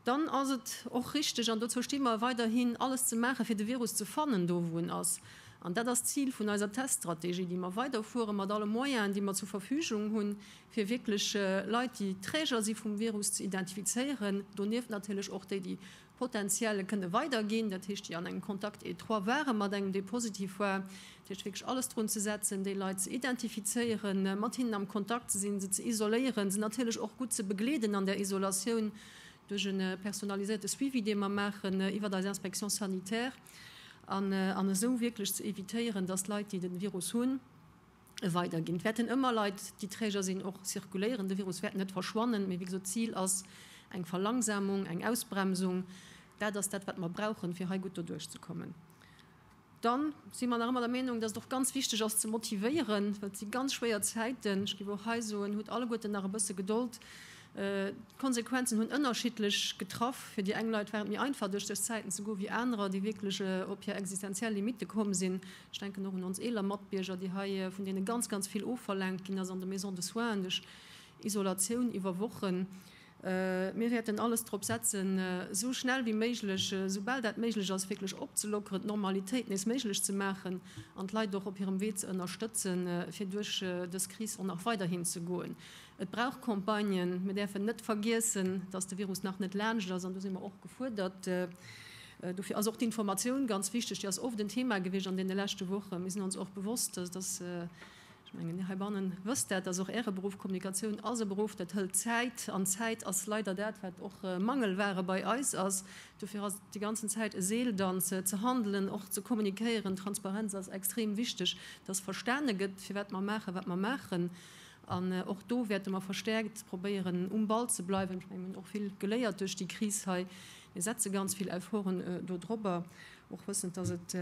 Dann ass et och richteg, an dozou sti mer weiderhin, alles ze maachen, fir de Virus ze fannen, do wou en ass. An dat ass d'Zil vun eiser Teststrategie, déi mer weiderfueren, mat alle Moyenen, déi mer zur Verfügung hunn, fir wierklech Leit, déi Träger si vum Virus, ze identifizéieren. Donieft natierlech och déi, déi potenziell e kënne weiderginn, dat heescht, déi an engem Contact étroit waren mat engem, dee positiv war. Dat heescht wierklech alles drun ze setzen, déi Leit ze identifizéieren, mat hinnen am Kontakt ze sinn, se ze isoléieren, se natierlech och gutt ze begleeden an der Isolatioun duerch e personaliséierte Suivi, dee mer maachen iwwert eis Inspection sanitaire, an esou wierklech ze evitéieren, dass Leit, déi de Virus hunn, e weiderginn. Et wäerten ëmmer Leit, déi Träger sinn, och zirkuléieren. De Virus wäert net verschwannen, mee wéi gesot, d'Zil ass eng Verlangsamung, eng Ausbremsung. Dat ass dat, wat mer brauchen, fir hei gutt doduerchzekommen. Dann si mer nach ëmmer der Meenung, dass et och ganz wichteg ass ze motivéieren, well et si ganz schwéier Zäiten. Ech géif och hei soen, hutt alleguerten nach e bësse Gedold. D'Konsequenzen hunn ënnerschiddlech getraff. Fir déi eng Leit war et méi einfach duerch dës Zäiten ze goen, wéi anerer, déi wierklech op hir existenziell Limitte komm sinn. Ech denken och un ons eeler Matbierger, déi hei, vun deene ganz, ganz vill ofverlaangt ginn ass an de Maisons de soins, duerch Isolatioun iwwer Wochen. Mir wäerten alles drop setzen, esou schnell wéi méiglech, esoubal dat méiglech ass, wierklech opzelockeren, d'Normalitéit nees méiglech ze maachen an d'Leit och op hirem Wee ze ënnerstëtzen, fir duerch dës Kris och nach weiderhin ze goen. Et brauch Campagnen. Mir däerfen net vergiessen, dass de Virus nach net laanscht ass. An do si mer och gefuerdert. Dofir ass och d'Informatioun ganz wichteg. Déi ass oft en Thema gewiescht an deene leschte Wochen. Mir sinn ons och bewosst, dass et. Ech mengen, heibanne wësst Där, dass och Äre Beruff, Kommunikatioun ass e Beruff, dat hëlt Zäit, an Zäit ass leider dat, wat och Mangelware bei eis ass. Dofir ass et déi ganzen Zäit e Seeldanz, ze handelen, och ze kommunikéieren. Transparenz ass extrem wichteg, dass verstane gëtt, firwat mer maachen, wat mer maachen. An och do wäerte mer verstäerkt probéieren, um Ball ze bleiwen. Ech mengen, mir hunn och vill geléiert duerch déi Kris hei. Mir setze ganz vill Efforten do drobber. Och wëssend, dass et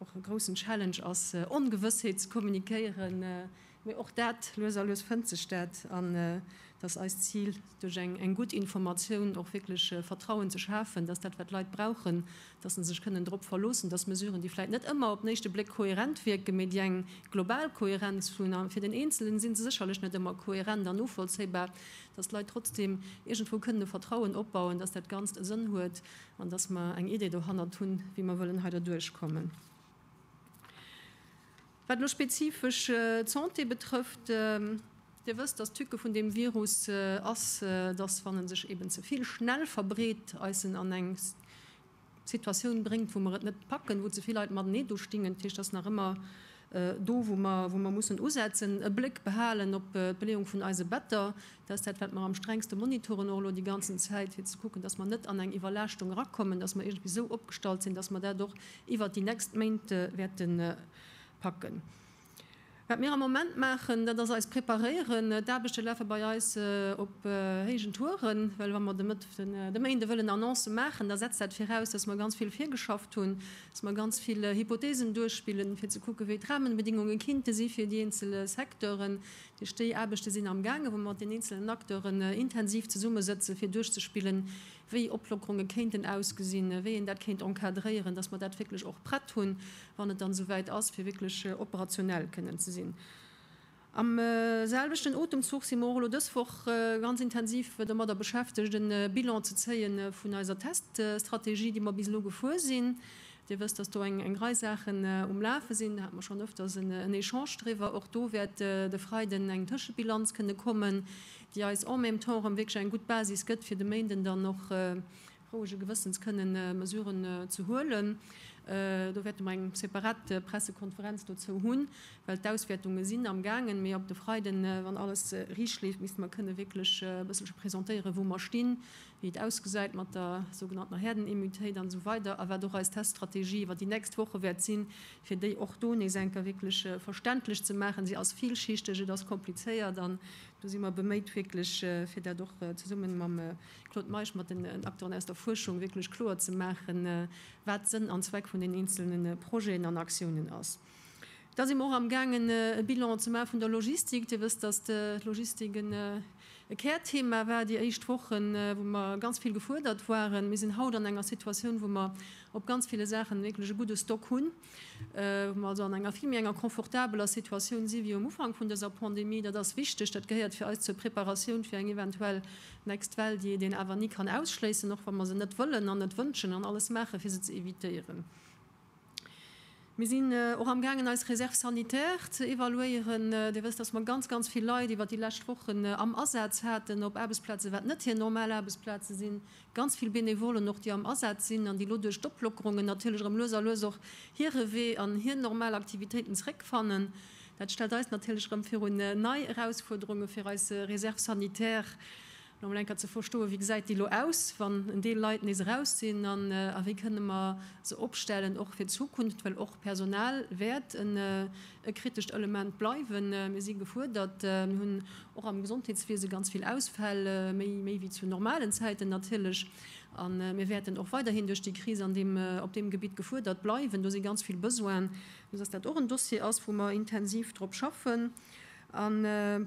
och e groussen Challenge ass, Ongewëssheet ze kommunikéieren, mee och dat, lues a lues fënnt sech dat. An et ass eist Zil, duerch eng gutt Informatioun och wierklech Vertrauen ze schafen, dass dat, wat d'Leit brauchen, dass se sech kënnen drop verloossen, dass Mesuren, déi vläicht net ëmmer op den éischte Bléck kohärent wierken, mee déi eng global Kohärenz hunn, a fir den Eenzelen si se sécherlech net ëmmer kohärent an novollzéibar, dass d'Leit trotzdeem iergendwou kënnen e Vertrauen opbauen, dass dat Ganzt e Sënn huet. An dass mer eng Idee dohannert hunn, wéi mer wëllen hei derduerch kommen. Wat elo spezifesch d'Santé betrëfft, Dir wësst, dass d'Tücke vun deem Virus ass, dass, wann e sech eeben ze vill schnell verbreet, eis en an eng Situatioun bréngt, wou mer et net packen, wou ze vill Leit matenee do stingen. Dat heescht, et ass nach ëmmer do, wou mer mussen usetzen, e Bléck behalen op d'Beleeung vun eise Better. Dat ass dat, wat mer am strengste monitoren, och elo déi ganzen Zäit, fir ze kucken, dass mer net an eng Iwwerlaaschtung erakommen, dass mer iergendwéi esou opgestallt sinn, dass mer dat och iwwert déi nächst Méint wäerte packen. Wat mir am Moment maachen, dat ass eis preparéieren. D'Aarbechte lafe bei eis op héijen Touren, well wa mer de Méinde wëllen Annoncë maachen, da setzt dat viraus, dass mer ganz vill virgeschafft hunn, dass mer ganz vill Hypotheesen duerchspillen, fir ze kucken, wéi d'Rahmenbedingungen kinnte si fir déi eenzel Secteuren, Duerch déi Aarbechte sinn amgaange wou mer mat den eenzelen Acteuren intensiv zesummesëtzen, fir duerchzespillen, wéi Oplockerunge kéinten ausgesinn, wéi een dat kéint encadréieren, dass mer dat wierklech och prett hunn, wann et dann esouwäit ass, fir wierklech operationell kënnen ze sinn. Am selwechten Otemzuch si mer och elo dës Woch ganz intensiv domadder beschäftegt, e Bilan ze zéie vun eiser Teststrategie, déi mer bis elo gefuer sinn, Dir wësst, dass do eng Rei Saachen um Lafe sinn. Do hate mer schonn öfters en Echange driwwer. Och do wäert de Freiden eng Tëschebilanz kënne kommen, déi eis en même temps erëm wierklech eng gutt Basis gëtt, fir de Méinden dann och rouege Gewëssens kënnen Mesuren ze huelen. Do wäerte mer eng separat Pressekonferenz dozou hunn, well d'Auswäertunge sinn am gaangen. Mee op de Freiden, wann alles riicht leeft, misste mer kënne wierklech e bësselche presentéieren, wou mer stinn, wéi et ausgesäit mat der sougenanntener Herdenimmutéit an esou weider a wat och eis Teststrategie iwwer déi nächst Woche wäert sinn, fir déi och do nees eng Kéier wierklech verständlech ze maachen. Si ass villschichteg, et ass komplizéiert an do si mer beméit wierklech, fir dat och zesummen mam Claude Meisch, mat den Acteuren aus der Fuerschung wierklech kloer ze maachen, wat Sënn an Zweck vun den eenzelne Projeten an Aktiounen ass. Da si mer och amgaangen e Bilan ze maache vun der Logistik. Dir wësst, datt d'Logistik e Kärthema war déi éischt Wochen, wou mer ganz vill gefuerdert waren. Mir sinn haut an enger Situatioun, wou mer op ganz ville Saachen wierklech e gudde Stock hunn, wou mer also an enger vill méi enger confortabeler Situatioun si wéi um Ufank vun dëser Pandemie. Dat ass wichteg. Dat gehéiert fir eis zur Preparatioun fir eng eventuell next Well, déi een awer ni kann ausschléissen, och wa mer se net wëllen an net wënschen an alles maache fir se ze evitéieren. Mir sinn och amgaangen, eis Réserve sanitaire ze evaluéieren. Dir wësst, dass mer ganz, ganz vill Leit iwwert déi lescht Wochen am Asaz haten op Aarbechtsplazen, wat net hir normal Aarbechtsplaze sinn, ganz vill Benevolen och, déi am Asaz sinn an déi elo duerch d'Oplockerungen natierlech erëm lues a lues och hire Wee an hir normal Aktivitéiten zeréckfannen. Dat stellt eis natierlech erëm virun nei Erausfuerderunge fir eis Réserve sanitaire. Fir emol eng Kéier ze verstoen, wéi gesäit déi elo aus, wann en Deel Leit nees eraus sinn, an a wéi kënne mer se opstellen, och fir d'Zukunft, well och Personal wäert e kritescht Element bleiwen. Mir si gefuerdert. Mir hunn och am Gesondheetswiese ganz vill Ausfäll, méi méi wéi zu normalen Zäiten natierlech, a mir wäerten och weiderhin duerch déi Kris an deem op deem Gebitt gefuerdert bleiwen. Do si ganz vill Besoinen, esou dass dat och en Dossier ass, wou mer intensiv drop schaffen. An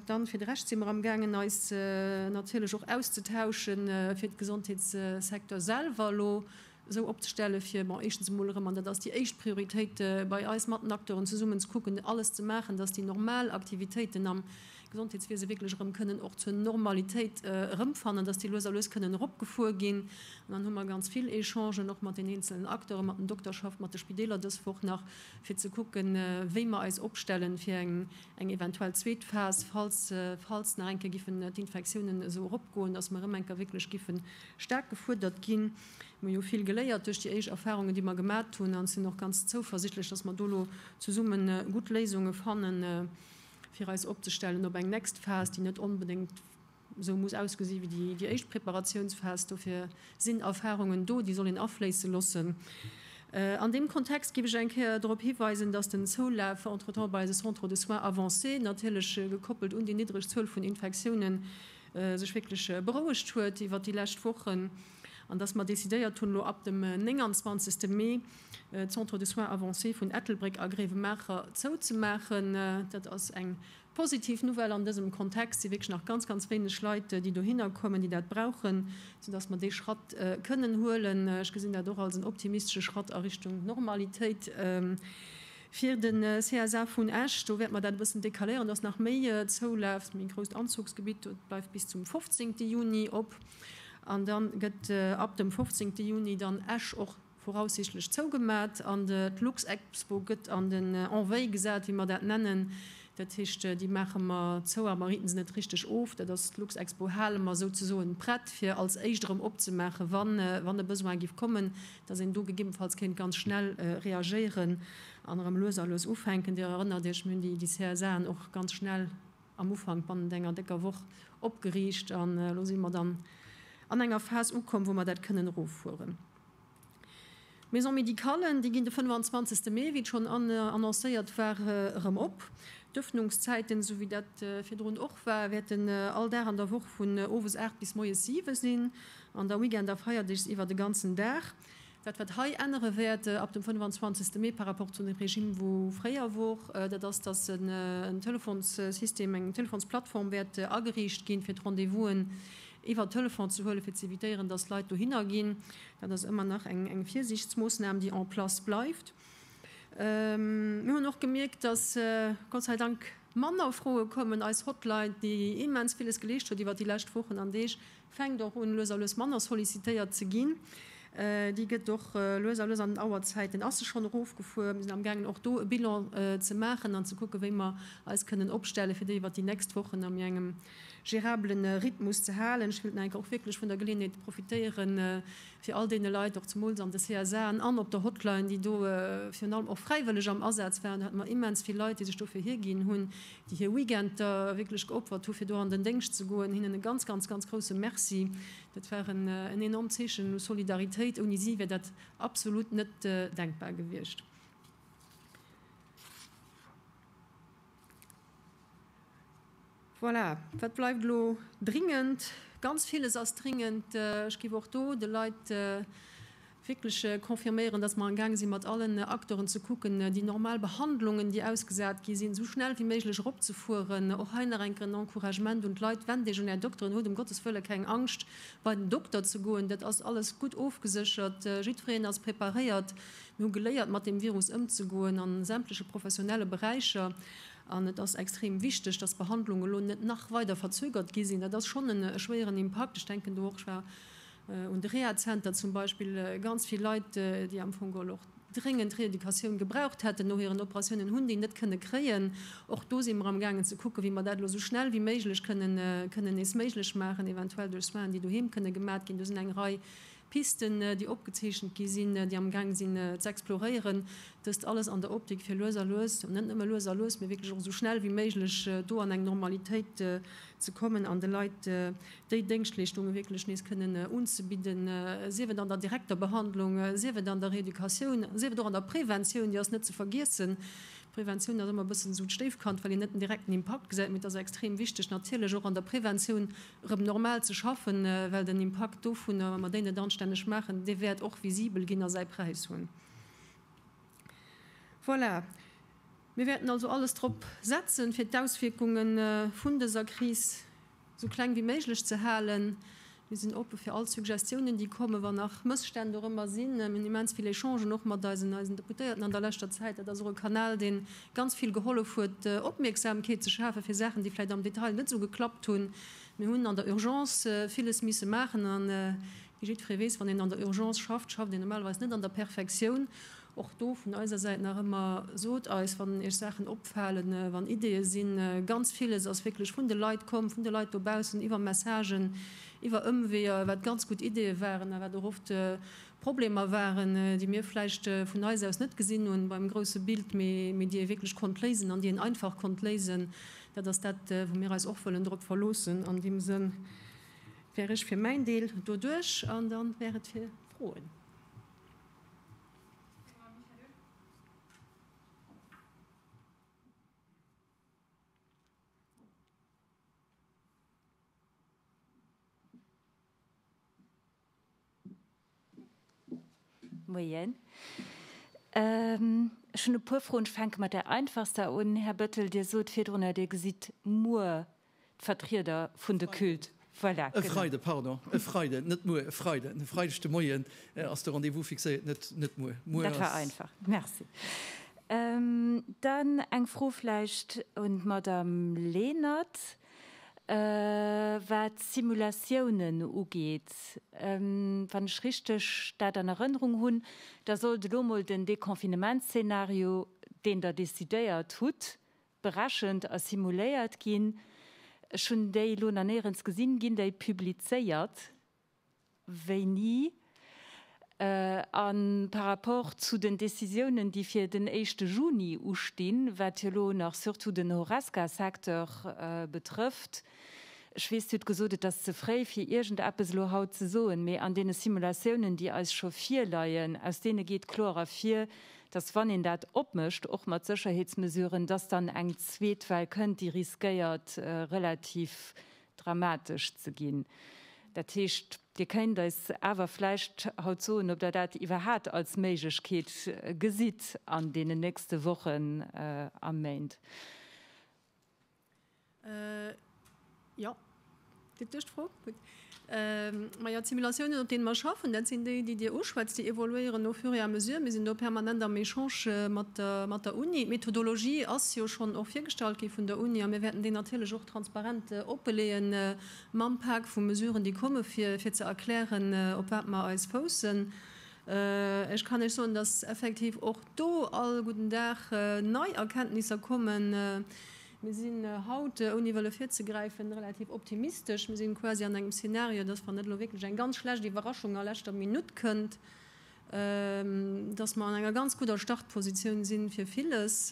dann fir de Rescht si mer am gaangen eis natierlech och auszetauschen, fir de Gesondheetssecteur selwer elo esou opzestellen, fir, bon, éischtens emol erëm, an dat ass déi éischt Prioritéit bei eis, mat den Acteuren zesummen ze kucken, alles ze maachen, datt déi normal Aktivitéiten am Gesondheetswiese wierklech erëm kënnen och zur Normalitéit erëmfannen, datt déi lues a lues kënnen eropgefuer ginn. An dann hu mer ganz vill Echangen och mat den eenzelen Acteuren, mat den Dokterschaft, mat de Spideeler dës Woch nach, fir ze kucken, wéi mer eis opstellen, fir eng eventuell zweet Phas, falls nach eng Kéier giffen d'Infektiounen esou eropgoen, dass mer erëm eng Kéier wierklech giffe staark gefuerdert ginn. Mer hu jo vill geléiert duerch déi éischt Erfahrungen, déi mer gemat hunn, an sinn och ganz zouversichtlech, dass mer do elo zesumme gutt Léisunge fanne fir eis opzestellen op eng next Phas, déi net onbedéngt, Esou muss ausgesi wéi déi éischt Preparatiounsphas. Dofir sinn Erfarungen do, déi soll een afléisse loossen. An deem Kontext géif ech eng Kéier drop hiweisen, datt den Zoulaf entretemps bei eise Centres de soins avancés, natierlech gekoppelt un déi niddreg Zuel vun Infektiounen, sech wierklech berouegt huet iwwert déi lescht Wochen an datt mer decidéiert hunn, elo ab dem 29 Mee d'Centres de soins avancés vun Ettelbréck a Gréiwemaacher zouzemaachen. Dat ass eng Positiv Nouvelle an dësem Kontext si wierklech nach ganz, ganz wéineg Leit, déi dohinner kommen, déi dat brauchen, soudass mer dee Schratt kënnen huelen. Ech gesinn dat och als en optimistesche Schratt a Richtung Normalitéit. Fir de CSA vun Esch, do wäerte mer dat e bëssen decaléieren, dass nach méi zoulaaft. Méi grousst Anzuchsgebitt, dat bleift bis zum 15. Juni op. An da gëtt ab dem 15. Juni dann Esch och voraussichtlech zougemat an d'Luxexpo gëtt an den en veille gesat, wéi mer dat nennen. Dat heescht, déi maache mer zou, a mer ritten se net richteg of. Dat ass, d'Luxexpo hale mer souzesoen prett, fir als éischt erëm opzemaachen, wann e Besoin giff kommen, dass een do gegebenfalls kéint ganz schnell reagéieren an erëm lues a lues ufänken. Dir erënnert Iech, mir hunn déi CSAen och ganz schnell am Ufank, bannent enger décker Woch, opgeriicht an elo si mer dann an enger Phas ukomm, wou mer dat kënnen eroffueren. D'Maisons médicales, déi ginn de 25 Mee, wéi et schonn annoncéiert war, erëm op. D'Ëffnungszäiten, esou wéi dat virdrun och war, wäerten all Dag an der Woch vun owes 8 bis moies 7 sinn an da Weekend a Feierdeeg iwwer de ganzen Dag. Dat wat hei ännere wäert ab dem 25 Mee par rapport zu dem Regime wou fréier wor, dat ass, datt en Telefonsystem, eng Telefonsplattform wäert ageriicht ginn, fir d'Rendez-vous'en iwwer Telefon ze huelen, fir ze evitéieren, dass Leit dohinner ginn. Dat ass ëmmer nach eng Virsiichtsmoossnam, déi en place bleift. Mir hunn och gemierkt, dass Gott sei Dank manner Froe kommen. Eis Hotline, déi immens villes geleescht huet iwwer déi lescht Wochen an Deeg, fänkt och un, lues a lues manner sollicitéiert ze ginn. Déi gëtt och lues a lues an den Auerzäiten ass se schonn erofgefuer. Mir sinn amgaangen, och do e Bilan ze maachen an ze kucken, wéi mer eis kënnen opstellen, fir déi iwwer déi nächst Wochen a mir engem gérablen Rhythmus ze halen. Ech wëllt nach eng Kéier och wierklech vun der Geleeënheet profitéieren, fir all deene Leit, och zemools an de CSAen an op der Hotline, déi do virun allem och fräiwëlleg am Asaz waren, do hate mer immens vill Leit, déi sech dofir hierginn hunn, déi hir Weekender wierklech geopfert hu fir do an den Déngscht ze goen, hinnen e ganz, ganz, ganz grousse Merci. Dat war en enormt Zeechen u Solidaritéit. Ouni si wär dat absolut net denkbar gewiescht. Voilà, wat bleift elo? Dringend, ganz villes ass dringend. Ech géif och do de Leit wierklech confirméieren, dass mer am gaange sinn, mat allen Acteuren ze kucken, déi normal Behandlungen, déi ausgesat gi sinn, esou schnell wéi méiglech eropzefueren. Och hei nach eng Kéier en Encouragement un d'Leit, Wennt Iech un Är Dokteren, hutt ëm Gottes wëlle keng Angscht, bei den Dokter ze goen. Dat ass alles gutt ofgeséchert, jiddwereen ass preparéiert. Mir hu geléiert mat deem Virus ëmzegoen a sämtleche professionelle Beräicher an et ass extrem wichteg, datt d'Behandlungen elo net nach weider verzögert gi sinn. Dat ass schonn e schwéieren Impakt. Ech denken do och, ech war un de Rehazenter zum Beispill, ganz vill Leit, déi am Fong geholl och dréngend Reeducatioun gebraucht hätten no hiren Operatiounen, hunn déi net kënne kréien. Och do si mer amgaangen ze kucken, wéi mer dat elo esou schnell wéi méiglech kënnen nees méiglech maachen, eventuell duerch Soinen, déi doheem kënne gemat ginn. Do sinn eng Rei Pisten, déi opgezeechent gi sinn, déi amgaang sinn ze exploréieren, dëst alles an der Optik fir lues a lues, net nëmme lues a lues, mee wierklech och esou schnell wéi méiglech do an eng Normalitéit ze kommen an de Leit déi Déngschtleeschtunge wierklech nees kënnen unzebidden, sief et an der direkter Behandlung, sief et an der Reeducatioun, sief et och an der Preventioun, déi ass net ze vergiessen. D'Preventioun ass ëmmer e bëssen esou d'Stéifkand, well een net den direkten Impakt gesäit, mee et ass extrem wichteg natierlech och an der Preventioun rëm normal ze schaffen, well den Impakt dovunner, wa mer déi net anstänneg maachen, dee wäert och visibel ginn a säi Präis hunn. Voilà, mir wäerten also alles drop setzen, fir d'Auswierkunge vun dëser Kris esou kleng wéi méiglech ze halen. Mir sinn oppe fir all Suggestiounen, déi kommen, wa nach Mësstänn dorëmmer sinn. Mir hunn immens vill Echangen och mat eisen Deputéierten an der leschter Zäit. Dat ass och e Kanal, deen. ganz vill gehollef huet, Opmierksamkeet ze schafen fir Saachen, déi vläicht am Detail net esou geklappt hunn. Mir hunn an der Urgence villes misse maachen a wéi jiddweree weess, wann een an der Urgence schafft, schafft een normalerweis net an der Perfektioun. Och do vun eiser Säit nach ëmmer, Sot eis, wann Iech Saachen opfalen, wann Ideeë sinn. Ganz villes ass wierklech vun de Leit komm, vun de Leit dobaussen, iwwer Messagen, iwwer Ëmweeër, wat ganz gutt Ideeë waren a wat och oft Problemer waren, déi mir vläicht vun eis aus net gesinn hunn beim grousse Bild, mee déi ee wierklech konnt léisen an déi een einfach konnt léisen. Dat ass dat, wou mir eis och wëllen drop verloossen. An deem Sënn wär ech fir mäin Deel do duerch an da wär et fir Froen. Moien. Ech hunn e puer Froen. Ech fänke mat där einfachster un. Här Bettel, Dir sot virdrun, datt Dir gesitt muer d'Vertrieder vun de Culte. Voilà. E Freide, pardon. E Freiden, net muer, e Freiden. E Freideg de Moien ass de Rendez-vous fixéiert, net, net muer. Muer ass. Dat war einfach. Merci. Dann eng Fro vläicht un d'Madame Lenert. Wat d'Simulatiounen ugeet, wann ech richteg dat an Erënnerung hunn, da sollt elo mol den Deconfinementsszenario, deen Der decidéiert hutt, berechent a simuléiert ginn. Ech hunn déi elo nach néierens gesinn. Ginn déi publizéiert? Wéini? A par rapport zu den Décisiounen, déi fir den éischte Juni ustinn, wat jo elo nach surtout den Horesca-Secteur betrëfft, ech weess, Dir hutt gesot, et ass ze fréi fir iergendeppes elo haut ze soen, mee an deene Simulatiounen, déi eis scho virleien, aus deene geet kloer ervir, datt, wann een dat opmécht, och mat Sécherheetsmesuren, datt dann eng zweet Well kënnt, déi riskéiert relativ dramatesch ze ginn. Dat heescht, Dir kéint eis awer vläicht haut soen, ob Der dat iwwerhat als Méiglechkeet gesitt an deenen nächste Wochen a Méint? Jo, geet duerch d'Fro. Gutt. Majo, d'Simulatiounen, op deene mer schaffen, dat sinn déi, déi Dir uschwätzt. Déi évoluéieren au fur et à mesure. Mir sinn do permanent am Echange mat der Uni. D'Methodologie ass jo schonn och virgestallt gi vun der Uni a mir wäerten déi natierlech och. Transparent opleeën mam Pak vu Mesuren, déi komme fir fir ze erklären, op wat mer eis foussen. Ech kann Iech soen, dass effektiv och do all gudden Dag nei Erkenntnisser kommen. Mir sinn haut, ouni wëlle virzegräifen, relativ optimistesch. Mir si quasi an engem Szenario, dass, wann net elo wierklech eng ganz schlecht Iwwerraschung a leschter Minutt kënnt, dass mer an enger ganz gudder Startpositioun sinn fir villes.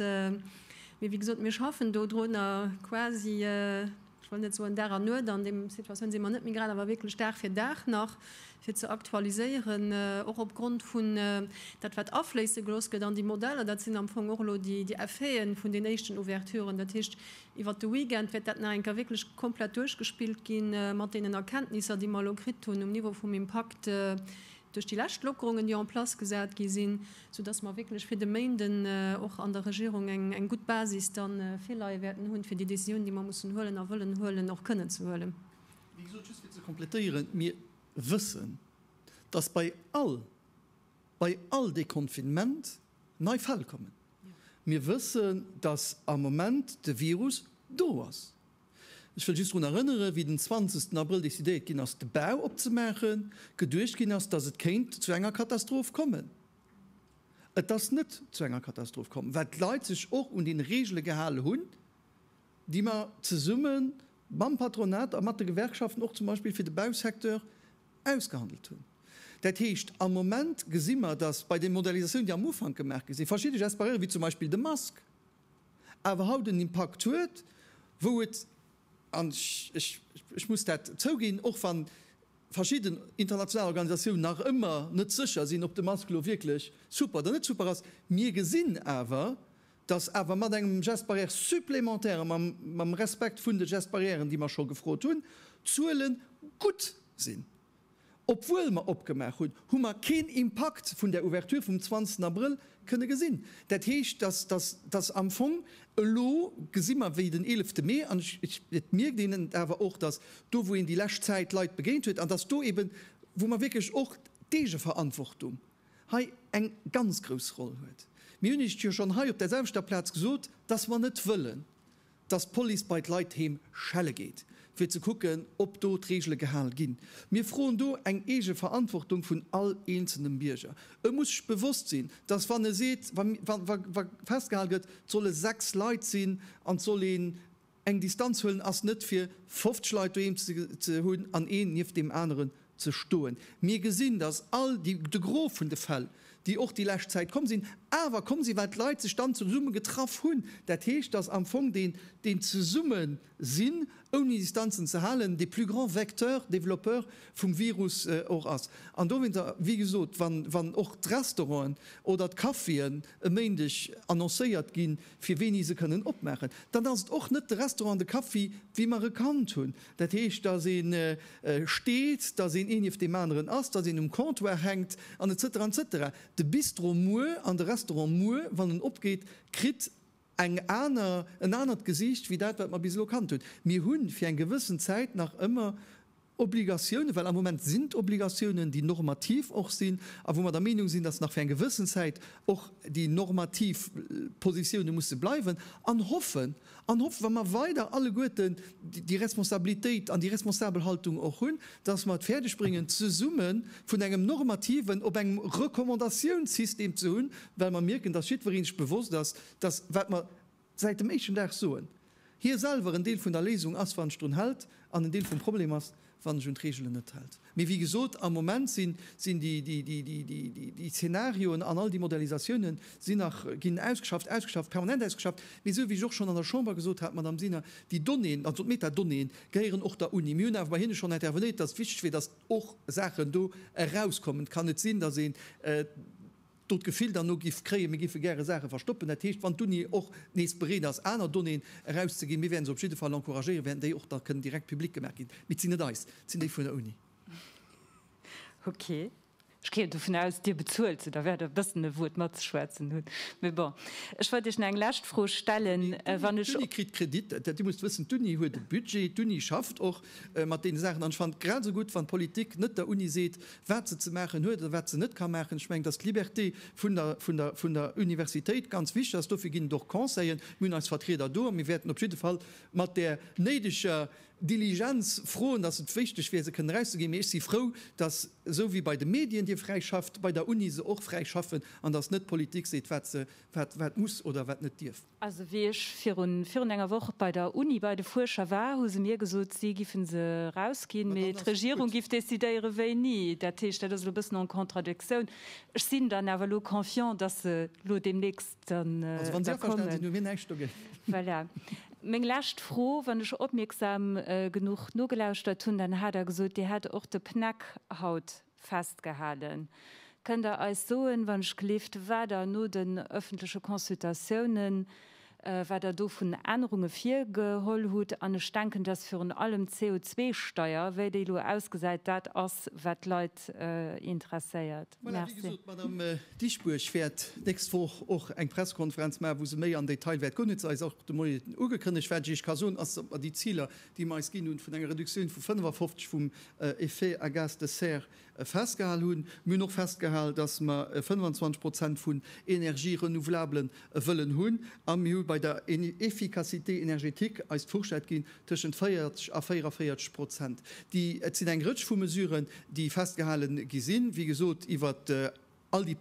Mee wéi gesot, mir schaffen do drunner quasi, ech wëll net soen Dag an Nuet, an deem Situatioun si mer net méi grad, awer wierklech Dag fir Dag nach fir ze aktualiséieren, och opgrond vun dat wat afléisse gelooss gëtt an déi Modeller. Dat sinn am Fong och elo déi Effete vun den éischten Ouverturen. Dat heescht, iwwert de Weekend wäert dat nach eng Kéier wierklech komplett duerchgespillt gi mat deenen Erkenntnisser, déi mer elo kritt hunn um Niveau vum Impakt, duerch déi lescht Lockerungen, déi en place gesat gi sinn, soudass mer wierklech fir de Méinden och an der Regierung eng gutt Basis da virleie wäerten hunn, fir déi Decisioun, déi mer mussen huelen a wëllen huelen, och kënnen ze huelen. Wéi gesot, just fir ze complétéieren, Mir wëssen, dass bei all, bei all Deconfinement nei Fäll kommen. Mir wëssen, dass am Moment de Virus do ass. Ech wëll just drun erënneren, wéi den 20 Abrëll decidéiert ginn ass, de Bau opzemaachen, geduecht ginn ass, datt et kéint zu enger Katastroph kommen. Et ass net zu enger Katastroph komm, well d'Leit sech och un déi Regele gehale hunn, déi mer zesumme mam Patronat a mat de Gewerkschaften och zum Beispill fir de Bausecteur ausgehandelt hunn. Dat heescht, am Moment gesi mer, datt bei de Modernisatiounen, déi am Ufank gemaach gi sinn, verschidde Gespareure wéi zum Beispill de Mask, awer haut en Impakt huet, wou et, an ech muss dat zouginn, och wann verschidden international Organisatiounen nach ëmmer net sécher sinn, ob de Mask elo wierklech super oder net super ass, mir gesinn awer, dass awer mat engem Geste barrière supplémentaire a mam Respekt vun de Gestes barrièren, déi mer scho gefrot hunn, d'Zuele gutt sinn. Obwuel mer opgemaach hunn, hu mer keen Impakt vun där Ouverture vum 20 Abrëll kënne gesinn. Dat heescht, dass am Fong elo gesi mer, wéi den 11 Mee, an et mierkt een et awer och, dass do wou een déi lescht Zäit Leit begéint huet, an dass do eeben, wou mer wierklech och d'Eegeverantwortung hei eng ganz grouss Roll huet. Mir hunn Iech jo schonn hei op där selwechter Plaz gesot, dass mer net wëllen, dass d'Police bei d'Leit heem schelle geet, fir ze kucken, ob do d'Reegele gehal ginn. Mir froen do eng eege Verantwortung vun all eenzelnem Bierger. E muss sech bewosst sinn, dass wann e seet, wa festgehal gëtt, 't solle sechs Leit sinn an 't soll een eng Distanz huelen, ass net fir 50 Leit doheem ze hunn an een nieft deem aneren ze stoen. Mir gesinn, dass all déi, de Gros vun de Fäll, déi och déi lescht Zäit komm sinn, awer komm sinn, well d'Leit sech dann zesumme getraff hunn. Dat heescht, dass am Fong deen, deen Zesummesinn, ouni Distanzen ze halen, de plus grand Vecteur, Développeur vum Virus och ass. An dowéinter, wéi gesot, wann, wann och d'Restauranten oder d'Caféen e Méindeg annoncéiert ginn, fir wéini se kënnen opmaachen, dann ass et och net de Restaurant an de Café, wéi mer e kannt hunn, Dat heescht, dass ee steet, dass een ee nieft deem aneren ass, dass een um Comptoir hänkt an et cetera, et cetera. De Bistro muer an de Restaurant muer, wann en opgeet, kritt eng aner, en anert Gesiicht wéi dat, wat mer bis elo kannt hunn. Mir hu fir eng gewëssen Zäit nach ëmmer Obligatiounen, well am Moment sinn d'Obligatiounen, déi normativ och sinn a wou mer der Meenung sinn, dass nach fir eng gewëssen Zäit och déi normativ Positioune musse bleiwen, an hoffen, An hoffen, wa mer weider alleguerten déi Responsabilitéit an déi responsabel Haltung och hunn, dass mer et fäerdeg bréngen, zesumme vun engem normativen op engem Recommandatiounssystem ze hunn, well mer mierken, dass jiddweree sech bewosst ass, dass wat mer säit dem éischten Dag soen, hie selwer en Deel vun der Léisung ass, wann en sech drun hält, an en Deel vum Problem ass, wann ech un d'Reegelen net hält. Mee wéi gesot, am Moment sinn déi Zeenarioen an all déi Modellisatiounen sinn nach, ginn ausgeschafft, ausgeschafft, permanent ausgeschafft. Mee esou wéi ech och schonn an der Chamber gesot hat, Madame Sinner, déi Donnéeën, also d'Metadonnéeën, gehéieren och der Uni. Mir hunn awer bei hinne schonn intervenéiert, datt et wichteg wier, datt och Saachen do erauskommen. Et kann net sinn, datt een do d'Gefill derno giff kréien, mir giffe gäre Saache verstoppen, dat heescht, wann d'Uni och nees bereet ass aner Donnéeën erauszeginn, mir wäerten se op jidde Fall encouragéieren, wäerten déi och da kënnen direkt public gemaach ginn, mee et sinn net eis, et sinn déi vun der Uni. Okay. Ech géing dovun aus, Dir bezuelt se, da wäert Der e bëssen e Wuert matzeschwätzen hunn, mee bon. Ech wollt Iech nach eng lescht Fro stellen, wann ech. D'Uni kritt Kredit, Dir musst wëssen, d'Uni huet e Budget, d'Uni schafft och mat deene Saachen an ech fannen et grad esou gutt, wann d'Politik net der Uni seet, wat se ze maachen huet oder wat se net ka maachen. Ech mengen, dass d'Liberté vun der Universitéit ganz wichtig ass. Dofir ginn et och Conseiller. Mir hunn eis Vertrieder do a mir wäerten op jidde Fall mat där néideger Diligenz froen, dass et wichteg wier, se kënnen erauszeginn. Mee ech si frou, dass, esou wéi bei de Medien, Dir fräi schafft, bei der Uni se och fräi schaffen an dass net d'Politik seet, wat muss oder wat net dierf. Also wéi ech virun virun enger Woch bei der Uni bei de Fuerscher war, hu se mir gesot, si giffen se erausginn, mee d'Regierung giff decidéieren, wéini. Dat heescht, dat ass elo e bëssen en contradictioun. Ech sinn dann awer elo confiant, dass se elo deemnächst dann da kommen. Also wann si averstane sinn, hu mir näischt dogéint. Voilà. Meng lescht Fro, Wann ech opmierksam genuch nogelauschert hunn, dann hat Der gesot, Dir hätt och de PNEC haut Festgehalen. Kënnt Der eis soen, wann ech gleeft, wat Der no den öffentleche Consultatiounen, wat Der do vun Ännerunge virgeholl hutt? An ech denken, dass virun allem d'CO2-Steuer, wéi déi elo ausgesäit, dat ass, wat d'Leit interesséiert. Voilà, wéi gesot, d'Madame Dieschbourg wäert d'nächst Woch och eng Pressekonferenz maachen, wou se méi am Detail wäert goen, huet se eis och de Moien ugekënnegt. Wat ech Iech ka soen, ass, datt mer déi Ziler déi mer eis ginn hunn, vun enger Reduktioun vu 55 vum Effet à gaz de serre festgehal hunn. Mir hunn och festgehal, dass mer 25 Prozent vun Energië renouvelablen wëllen hunn. A mir hu bei der Efficacité énergétique eis d'Fourchette ginn tëschent 40 a 44 Prozent. Et sinn eng Rëtsch vu Mesuren, déi festgehale gi sinn, wéi gesot, iwwert All déi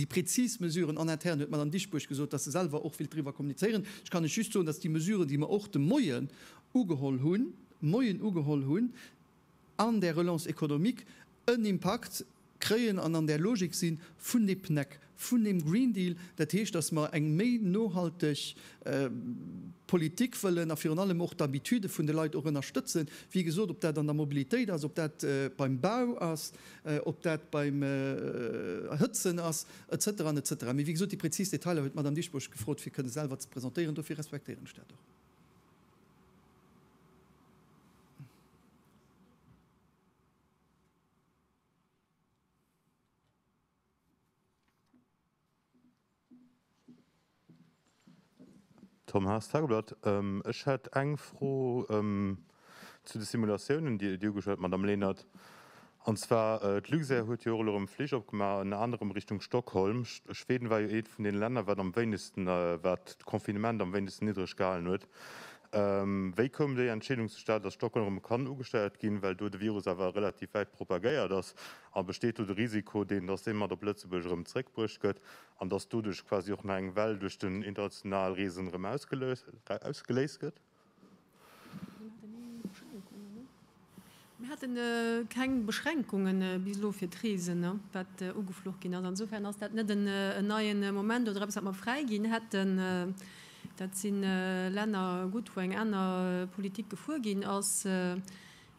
prezis Mesuren en interne huet d'Madame Dieschbourg gesot, dass se selwer och wëllt driwwer kommunizéieren. Ech kann lech just soen, dass déi Mesuren, déi mer och de Moien ugeholl hunn, Moien ugeholl hunn, an där Relance économique en Impakt kréien an an där Logik si vun de PNEC, vun deem Green Deal. Dat heescht, dass mer eng méi nohalteg Politik wëllen a virun allem och d'Habitude vun de Leit och ënnerstëtzen, wéi gesot, ob dat an der Mobilitéit ass, ob dat beim Bau ass, ob dat beim Erhëtzen ass, etc. Etc. Mee wéi gesot, déi präzis Detailer huet d'Madame Dieschbourg gefrot, fir kënne selwer ze presentéieren. Dofir respektéieren ech dat och. Tom Haas, Tageblatt, Ech hätt eng Fro zu de Simulatiounen, déi Dir ugeschwat hutt, Madamm Lenert. An zwar, d'Luxair huet jo och elo erëm Flich opgemaach, ënner anerem Richtung Stockholm. Schweden war jo eent vun deene Länner, wat am wéinegsten, wat d'Confinement am wéinegsten niddreg gehalen huet. Wéi koum déi Entscheedung zustad, datt Stockholm erëm kann ugesteiert ginn, well do de Virus awer relativ wäit propagéiert ass? A besteet do de Risiko, deen, dass dee mat op Lëtzebuerg erëm zréckbruecht gëtt an dass doduerch quasi och nach eng Well duerch den international Reesen erëm ausgeléist gëtt? Mir hate keng Beschränkungen bis elo fir d'Reesen, wat ugefluch ginn ass. Insofern ass dat net en neien Moment oder eppes, wat mer fräiginn hätten. Dat si Länner gutt, wou eng aner Politik gefuer ginn ass.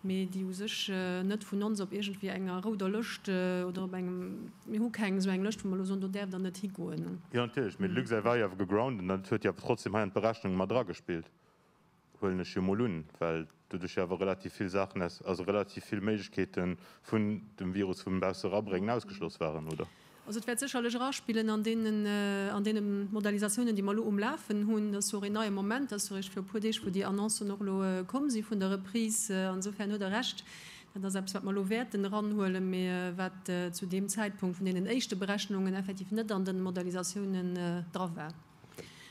mee déi u sech net vun ons op iergendwéi enger rouder Lëscht oder op engem, mir hu keng esou eng Lëscht, wou mer elo soen, do däerft Der net higoen. Jo, natierlech, mee de Luxair war jo awer gegroundet an dat huet jo awer trotzdem hei an d'Berechnung mat eragespillt, huelen ech jo mol un, well do duerch jo awer relativ vill Saachen aus, also relativ vill Méiglechkeete vun dem Virus vum Bausse erabréngen ausgeschloss waren, oder? Also et wäert sécherlech eraspillen an deene Modalisatiounen, déi mer elo um Lafen hunn. Dat ass jo och een neie Moment. Dat ass jo eréischt viru e puer Deeg, wou déi Annoncen och elo komm si vun der Reprise. Insofern huet Der Recht, dat ass eppes, wat mer elo wäerten eranhuelen, mä wat zu deem Zäitpunkt vun deenen éischte Berechnungen effektiv net an den Modalisatiounen dra war.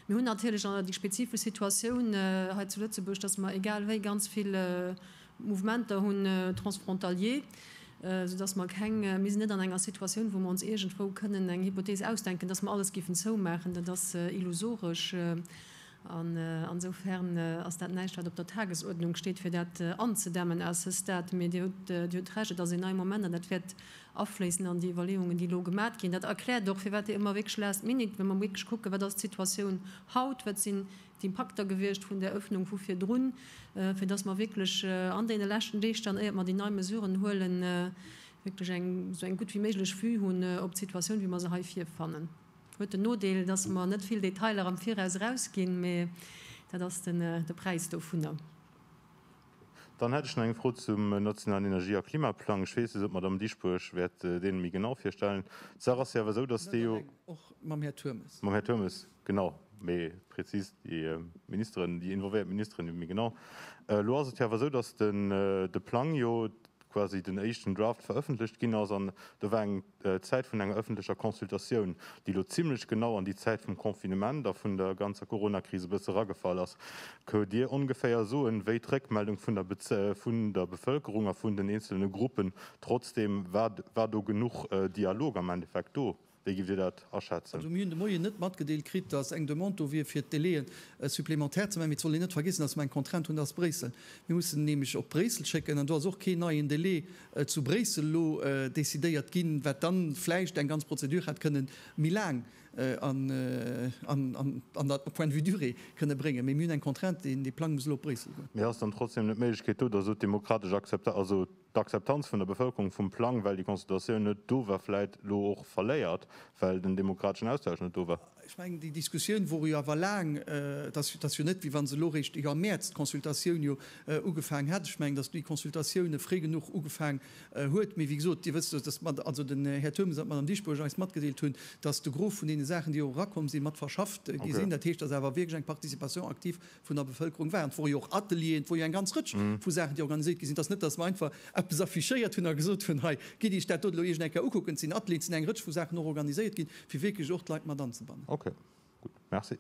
Mir hunn natierlech déi spezifesch Situatioun hei zu Lëtzebuerg, dass mer egal wéi ganz vill Mouvementer hunn, transfrontalier, soudass mer keng, mir sinn net an enger Situatioun, wou mer ons iergendwou kënnen eng Hypothees ausdenken, dass mer alles géifen zoumaachen. Dat ass illusoresch. An esoufer'n ass dat näischt, wat op der Tagesuerdnung steet, fir dat anzedämmen à ce stade. Mee Dir hutt Recht, et ass een nei Moment an dat wäert afléissen an déi Iwwerleeungen, déi elo gemat ginn. Dat erkläert och, firwat ëmmer wierklech last minute, wa mer wierklech kucken, wat ass d'Situatioun haut, wat sinn d'Impakter gewiescht vun där Öffnung vu virdrun, fir dass mer wierklech an deene leschten Deeg dann, éiert mer déi nei Mesuren huelen, wierklech eng esou eng gutt wéi méiglech Vue hunn op d'Situatioun, wéi mer se hei virfannen. Huet den Nodeel, dass mer net vill Detailer am Viraus erausginn, mä dat ass de Präis dovunner. Dann hätt ech nach eng Fro zum nationalen Energie a Klimaplang. Ech weess net, ob d'Madamm Dieschbourg wäert dee méi genau virstellen. D'Saach ass jo awer esou, datt dee jo. Och mam Här Turmes. Mam Här Turmes, genau. Méi prezis déi Ministeren, déi involvéiert Ministeren, déi méi genau. Elo ass et jo awer esou, datt de Plang jo. quasi den éischten Draft verëffentlecht ginn ass, an do war eng Zäit vun enger ëffentlecher Consultatioun, déi elo zimlech genau an déi Zäit vum Confinement a vun der ganzer Coronakris e bësse eragefall ass. Këunt Dir ongeféier soen, wéi d'Réckmeldung vun der vun der Bevëlkerung a vun den eenzelne Gruppen, trotzdeem, war war do genuch Dialog am Endeffekt do? Wéi giff Dir dat aschätzen? Mir hunn de Moien net matgedeelt kritt, datt eng Demande do wier fir d'Délai'en supplémentaires ze maachen. Mee et soll een net vergiessen, datt mer eng Contrainte hunn, datt Bréissel, mir mussen nämlech op Bréissel schécken, an do ass och keen neien Délai zu Bréissel elo décidéiert ginn, wat dann vläicht eng ganz Prozedur hätt kënnen méi laang an der, au point de vue durée, kënnen bréngen. Mee mir hunn eng Contrainte, dee Plang muss elo op Bréissel goen. Mee ass dann trotzdem net d'Méiglechkeet do, datt elo d'demokratesch Akzepta, also d'Akzeptanz vun der Bevëlkerung vum Plang, well déi Consultatioun net do war, vläit elo och verléiert, well den demokrateschen Austausch net do war. Ech mengen, déi Diskussioun wor jo awer laang. Et ass jo net, wéi wa se elo réischt iwwer Mäerz d'Consultatioun jo ugefaangen hätt. Ech mengen, datt déi Consultatioun fréi genuch ugefaangen huet. Mee wéi gesot, Dir wësst, datt d'Mad, also den Här Turmes an d'Madame Dieschbourg eis matgedeelt hunn, datt de Gros vun deene Saachen, déi och erakomm sinn, mat verschafft gi sinn. Dat heescht, datt awer wierklech eng Participation active vun der Bevëlkerung waren. Et wore jo och Atelieren, et wor jo eng ganz Rëtsch vu Saachen, déi organiséiert gi sinn. Et ass net, datt mer einfach eppes affichéiert hunn a gesot hunn, hei, gitt Iech dat dot elo iergend eng Kéier ukucken. Et sinn Atelieren, et sinn eng Rëtsch vu Saachen och organiséiert ginn, fir wierklech och d'Leit mat anzebannen. Ok, gutt. Merci.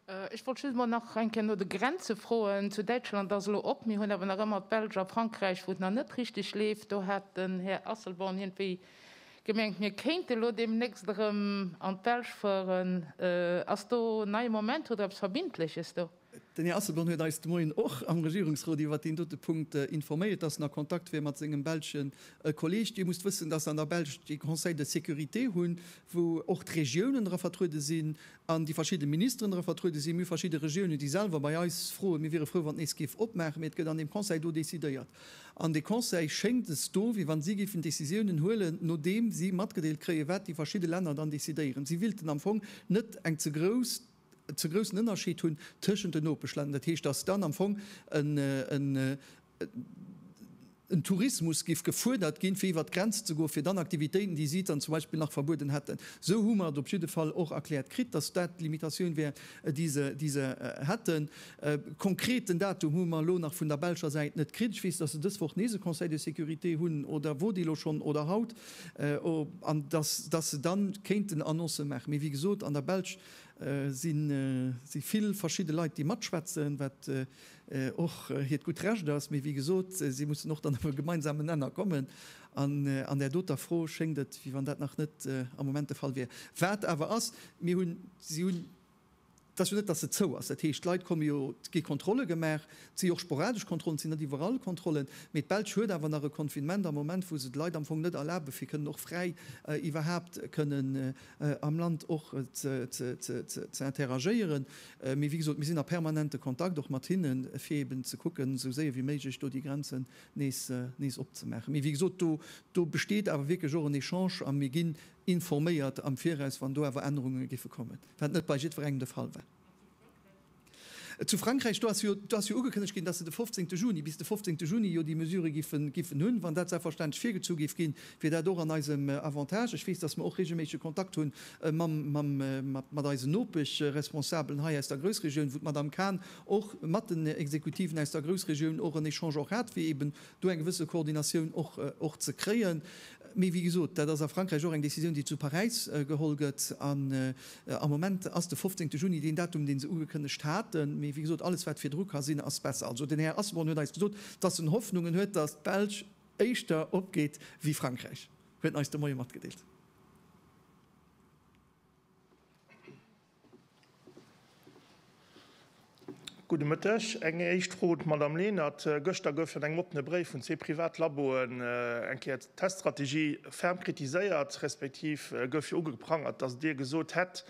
Ech wollt just mol nach eng Kéier no de Grenze froen. Zu Däitschland ass elo op. Mir hunn awer nach ëmmer d'Belsch a Frankräich, wou et nach net richteg leeft. Do hat den Här Asselborn iergendwéi gemengt, mir kéinte elo deemnächst erëm an d'Belsch fueren. Ass do nei Moment? Hutt Der eppes Verbindleches do? Den Här Asselborn huet eis de Moien och am Regierungsrot iwwert deen dote Punkt informéiert, dass en a Kontakt wier mat sengem belsche Kolleeg. Dir musst wëssen, dass se an der Belsch dee Conseil de sécurité hunn, wou och d'Regiounen dra vertruede sinn an déi verschidde Ministeren dra vertruede sinn. Mir hu verschidde Regiounen, déi selwer bei eis froen, mir wiere frou, wann et nees géif opmaachen, mee et gëtt an deem Conseil do decidéiert. An dee Conseil schéngt es do, wéi wann si géifen Décisiounen huelen, nodeem si matgedeelt kréien, wat déi verschidde Länner dann decidéieren. Si willten am Fong net eng ze grouss. ze groussen Ënnerscheed hunn tëschent den Nopeschlänner, dat heescht, dass dann am Fong en Tourismus géif gefuerdert ginn, fir iwwert d'Grenz ze goen, fir dann Aktivitéiten, déi si dann zum Beispill nach verbueden hätten. Esou hu mer et op jidde Fall och erkläert kritt, dass dat d'Limitatioun wär, déi se hätten. E konkreten Datum hu mer elo nach vun der belscher Säit net kritt. Ech weess, dass se dës Woch nees e Conseil de sécurité hunn, oder wor dee elo schonn, oder haut, an dass se da kéinten Annoncë maachen. Mee wéi gesot, an der Belsch Sinn si vill verschidde Leit déi matschwätzen, wat och hiert gutt Recht ass, mee wéi gesot, si mussen och dann op e gemeinsamen Nenner kommen. An an där doter Fro schéngt et wéi wann dat nach net am Moment de Fall wier. Wat awer ass, mir hunn, si hunn, et ass jo net datt se zou ass, dat heescht d'Leit komme jo, et gi Kontrolle gemaach, et si jo och sporadesch Kontrollen, et sinn net iwwerall Kontrollen, mee d'Belsch huet awer nach e Confinement am Moment, wou se de Leit am Fong net erlabe fir kënnen och fräi iwwerhaapt kënnen am Land och ze interagéieren. Mee wéi gesot, mir sinn a permanente Kontakt och mat hinne fir eeben ze kucken, esou séier wéi méiglech do déi Grenzen nees opzemaachen. Mee wéi gesot, do besteet awer wierklech och en Echange a mir ginn informéiert am Viraus, wann do awer Ännerunge géife kommen, wat net bei jiddwerengem de Fall war. Zu Frankräich, do ass jo ugekënnegt ginn, datt se de 15 Juni, bis de 15 Juni jo déi Mesure giffen hunn. Wann dat selbstverständlech virgezu géif ginn, wier dat och an eisem Avantage. Ech weess, datt mer och reegelméissege Kontakt hu mat eisen Nopeschresponsabelen hei aus der Groussregioun, wou d'Madame Cahn och mat den Exekutiven aus der Groussregioun och en Echange och hat, fir eeben do eng gewësse Koordinatioun och ze kréien. Mee wéi gesot, dat ass a Frankräich och eng Decisioun, déi zu Paräis geholl gëtt. An am Moment ass de 15 Juni deen Datum, dee se ugekënnegt haten. Mee wéi gesot, alles, wat virdru ka sinn, ass besser. Also den Här Asselborn huet eis gesot, dass en Hoffnungen huet, dass d'Belsch éischter opgeet wéi Frankräich, huet en eis de Moie matgedeelt. Gudde Mëtteg. Eng éischt Fro un d'Madamm Lenert. Gëschter gouf jo an engem oppene Bréif vun zwee Privatlaboen eng Kéier d'Teststrategie ferm kritiséiert, respektiv gouf jo ugeprangert, datt Dir gesot hätt,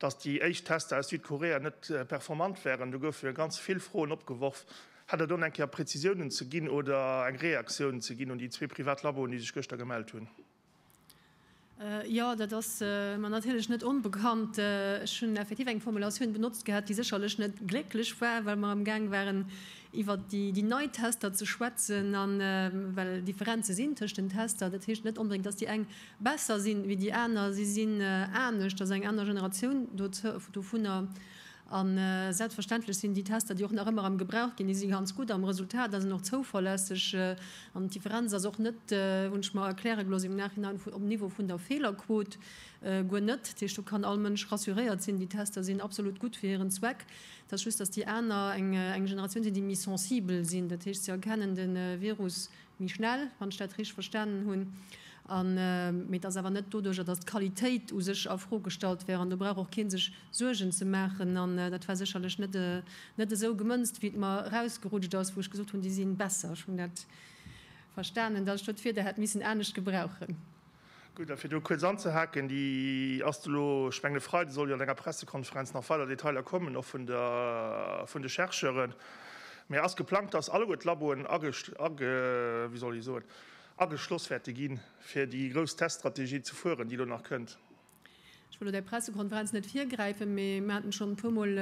datt déi éischt Tester aus Südkorea net performant wären. Do goufe jo ganz vill Froen opgeworf. Hätt Der do nach eng Kéier Prezisiounen ze ginn oder eng Reaktioun ze ginn un déi zwee Privatlaboen, déi sech gëschter gemellt hunn? Jo, dat ass mer natierlech net onbekannt. Ech hunn effektiv eng Formulatioun benotzt gehat, déi sécherlech net glécklech war, well mer amgaang waren, iwwer déi nei Tester ze schwätzen, a well Differenze sinn tëschent den Tester. Dat heescht net onbedéngt, datt déi eng besser sinn ewéi déi aner. Si sinn anescht, et ass eng aner Generatioun dovunner. A selbstverständlech sinn déi Tester, déi och nach ëmmer am Gebrauch ginn, déi si ganz gutt am Resultat a sinn och zouverlässeg. An d'Differenz ass och net, hunn ech mer erkläre gelooss im Nachhinein, um Niveau vun der Feelerquot, guer net. Dat heescht, do kann all Mënsch rassuréiert sinn, déi Tester sinn absolut gutt fir hiren Zweck. Et ass just, dass déi aner eng Generatioun sinn, déi méi sensibel sinn. Dat heescht, se erkennen de Virus méi schnell, wann ech dat richteg verstanen hunn, an mee et ass awer net doduerjer, dass d'Qualitéit u sech a Fro gestallt wär, an do brauch och kee sech Suergen ze maachen, an dat war sécherlech net esou gemënzt, wéi et mer erausgerutscht ass, wou ech gesot hunn, déi si besser. Ech hunn dat verstanen, dass ech do d'Wierder hätt missen anescht gebrauchen. Gutt, a fir do kuerz anzehaken, déi ass do elo, ech mengen e Freide soll jo an enger Pressekonferenz nach weider Detailer kommen, och vun der, vun de Chercheuren, mä ass geplangt, dass alleguer d'Laboen age, age, wéi soll ech soen, ageschloss wäerte ginn, fir déi grouss Teststrategie ze fueren, déi elo nach kënnt. Ech wëll lo däi Pressekonferenz net virgräifen, mee mir haten schonn e puer Mol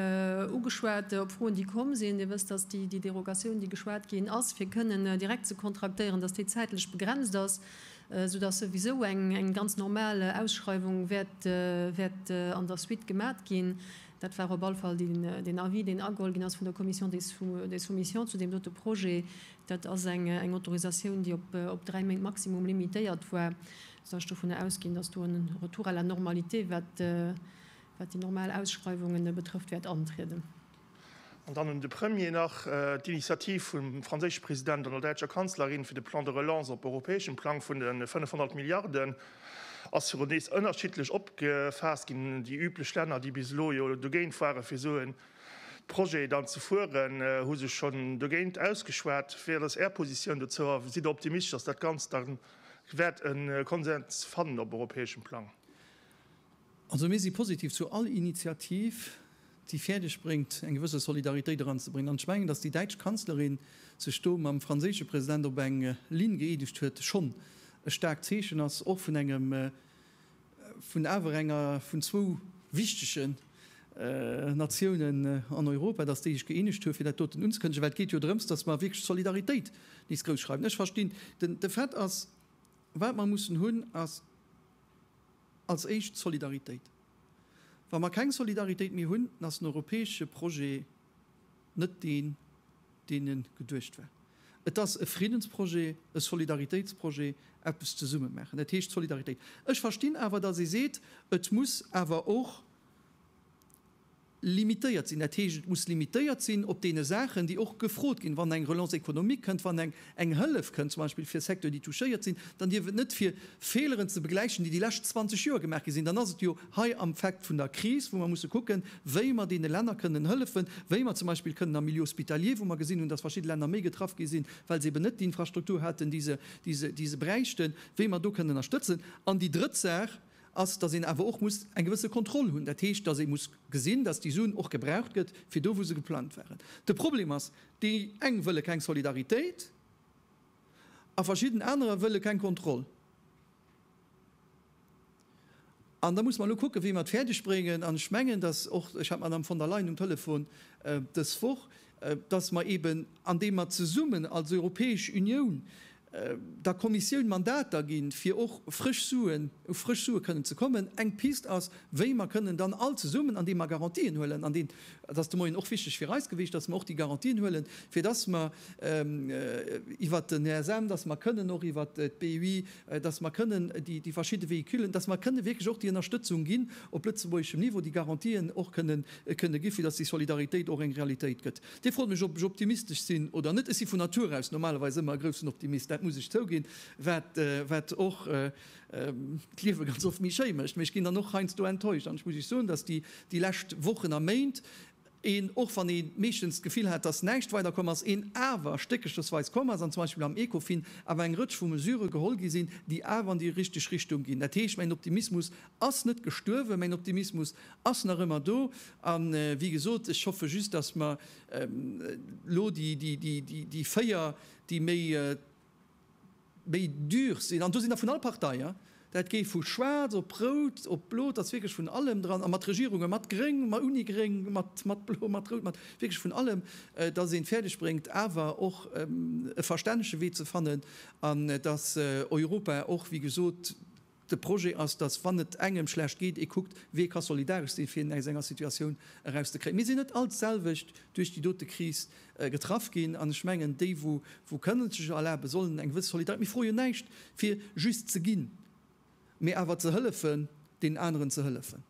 ugeschwat op Froen, déi komm sinn. Dir wësst, dass déi Derogatioun, déi geschwat ginn ass, fir kënnen direkt ze kontraktéieren, dass déi zäitlech begrenzt ass, soudass souwisou eng ganz normal Ausschreiwung wäert an der Suite gemat ginn. Dat war op alle Fall den Avis, deen ageholl ginn ass vun der Commission des soumissions zu deem dote Projet. Dat ass eng Autorisatioun, déi op dräi Méint maximum limitéiert war. Soll ech dovunner ausginn, dass do en Retour à la normalité, wat déi normal Ausschreiwungen betrëfft, wäert antrieden? An dann un de Premier nach d'Initiativ vum franséische President an der däitscher Kanzlerin fir de Plan de relance op europäeschem Plang vun de 500 Milliarden ass virun nees ënnerschiddlech opgefaasst ginn. Déi üblech Länner, déi bis elo jo dogéint waren, fir esou e Projet dann ze fueren, hu sech schonn dogéint ausgeschwat. Wat ass Är Positioun dozou a sidd Der optimistesch, dass dat Ganzt dann Ech wäert e Konsens fannen op europäeschem Plang. Also mir si positiv zu all Initiativ, déi fäerdeg bréngt, eng gewësse Solidaritéit eranzebréngen. An ech mengen, datt déi däitsch Kanzlerin sech do mam franséische President op eng Linn gëeenegt huet, schonn e staarkt Zeechen ass, och vun engem vun awer enger vun zwou wichtege Natiounen an Europa, datt déi sech gëeenegt hu fir dat doten unzekënnegen, well et geet jo drëms, datt mer wierklech d'Solidaritéit nees grouss schreiwen. Ech verstinn de Fait ass, wat mer mussen hunn, ass als éischt d'Solidaritéit. Wa mer keng Solidaritéit méi hunn, dann ass den europäesche Projet, Net deen, deen e geduecht war. Et ass e Friddensprojet, e Solidaritéitsprojet, eppes zesumme maachen. Dat heescht Solidaritéit. Ech verstinn awer, datt ee seet, et muss awer och limitéiert sinn. Dat heescht, et muss limitéiert sinn op deene Saachen, déi och gefrot ginn, wann eng Relance économique kënnt, wann eng eng Hëllef kënnt, zum Beispill fir Secteuren, déi touchéiert sinn, dann dierf et net fir Fehleren ze begläichen, déi déi lescht 20 Joer gemaach gi sinn, dann ass et jo hei am Fact vun der Kris, wou mer musse kucken, wéi mer deene Länner kënnen hëllefen, wéi mer zum Beispill kënnen am Milieu hospitalier, wou mer gesinn hunn, dass verschidde Länner méi getraff gi sinn, well se eben net déi Infrastruktur haten, déi se, déi se, déi se bräichten, wéi mer do kënnen ënnerstëtzen. An déi drëtt Saach ass, dass een awer och muss eng gewësse Kontroll hunn, dat heescht, dass ee muss gesinn, dass déi Suen och gebraucht gëtt fir do, wou se geplangt waren. De Problem ass, Déi eng wëlle keng Solidaritéit a verschidden anerer wëlle keng Kontroll. An da muss mer elo kucken, wéi mer et fäerdeg bréngen, an ech mengen, dass och, ech hat d'Madame von der Leyen um Telefon dës Woch, dass mer eeben, andeem mer zesummen als Europäesch Unioun der Kommissioun Mandater ginn, fir och frësch Suen, u frësch Sue kënnen ze kommen. Eng Pist ass, wéi mer kënnen dann all zesummen, andeem mer Garantien huelen, an deen, dat ass de Moien och wichteg fir eis gewiescht, dass mer och déi Garantien huelen, fir dass mer iwwert den ESM, dass mer kënnen och iwwert d'BUI, dass mer kënnen déi verschidde Véhiculen, dass mer kënnen wierklech och déi Ënnerstëtzung ginn op lëtzebuergeschem Niveau, déi Garantien och kënnen gi fir dass déi Solidaritéit och eng Realitéit gëtt. Dir frot mech, ob ech optimistesch sinn oder net. Ech si vun Natur aus normalerweis ëmmer e groussen Optimist, dat muss ech zouginn, wat wat och d'Liewe ganz oft méi schéi mécht. Mee ech ginn dann och heiansdo enttäuscht an ech muss Iech soen, dass déi déi lescht Wochen a Méint een, och wann ee meeschtens d'Gefill hat, dass näischt weiderkomm ass, een awer stéckerchesweis komm ass an zum Beispill am Ecofin awer eng Rëtsch vu Mesure geholl gi sinn, déi awer an déi richteg Richtung ginn. Dat heescht, mäin Optimismus ass net gestuerwen, mäin Optimismus Ass nach ëmmer do. A wéi gesot, ech hoffe just, dass mer elo déi véier, déi méi dur sinn, an do sinn der vun all Partei, dat géi vu schwaarz op rout, op blo, et ass wierklech vun allem dran, a mat Regierunge mat gréng, ouni gréng, mat blo, mat rout, mat wierklech vun allem, dass een et fäerdeg bréngt awer och e verstännege Wee ze fannen, an dass Europa och, wéi gesot, De Projet ass, datt, wann et engem schlecht geet, ee kuckt, wee ka solidaresch sinn, fir een aus enger Situatioun erauszekréien. Mir sinn net all d'selwecht duerch déi dote Kris getraff ginn, an ech mengen, déi, wou kënnen et sech erlaben, sollen eng gewësse Solidaritéit, mir froe jo näischt, fir just ze ginn, mee awer ze hëllefen, deenen aneren ze hëllefen.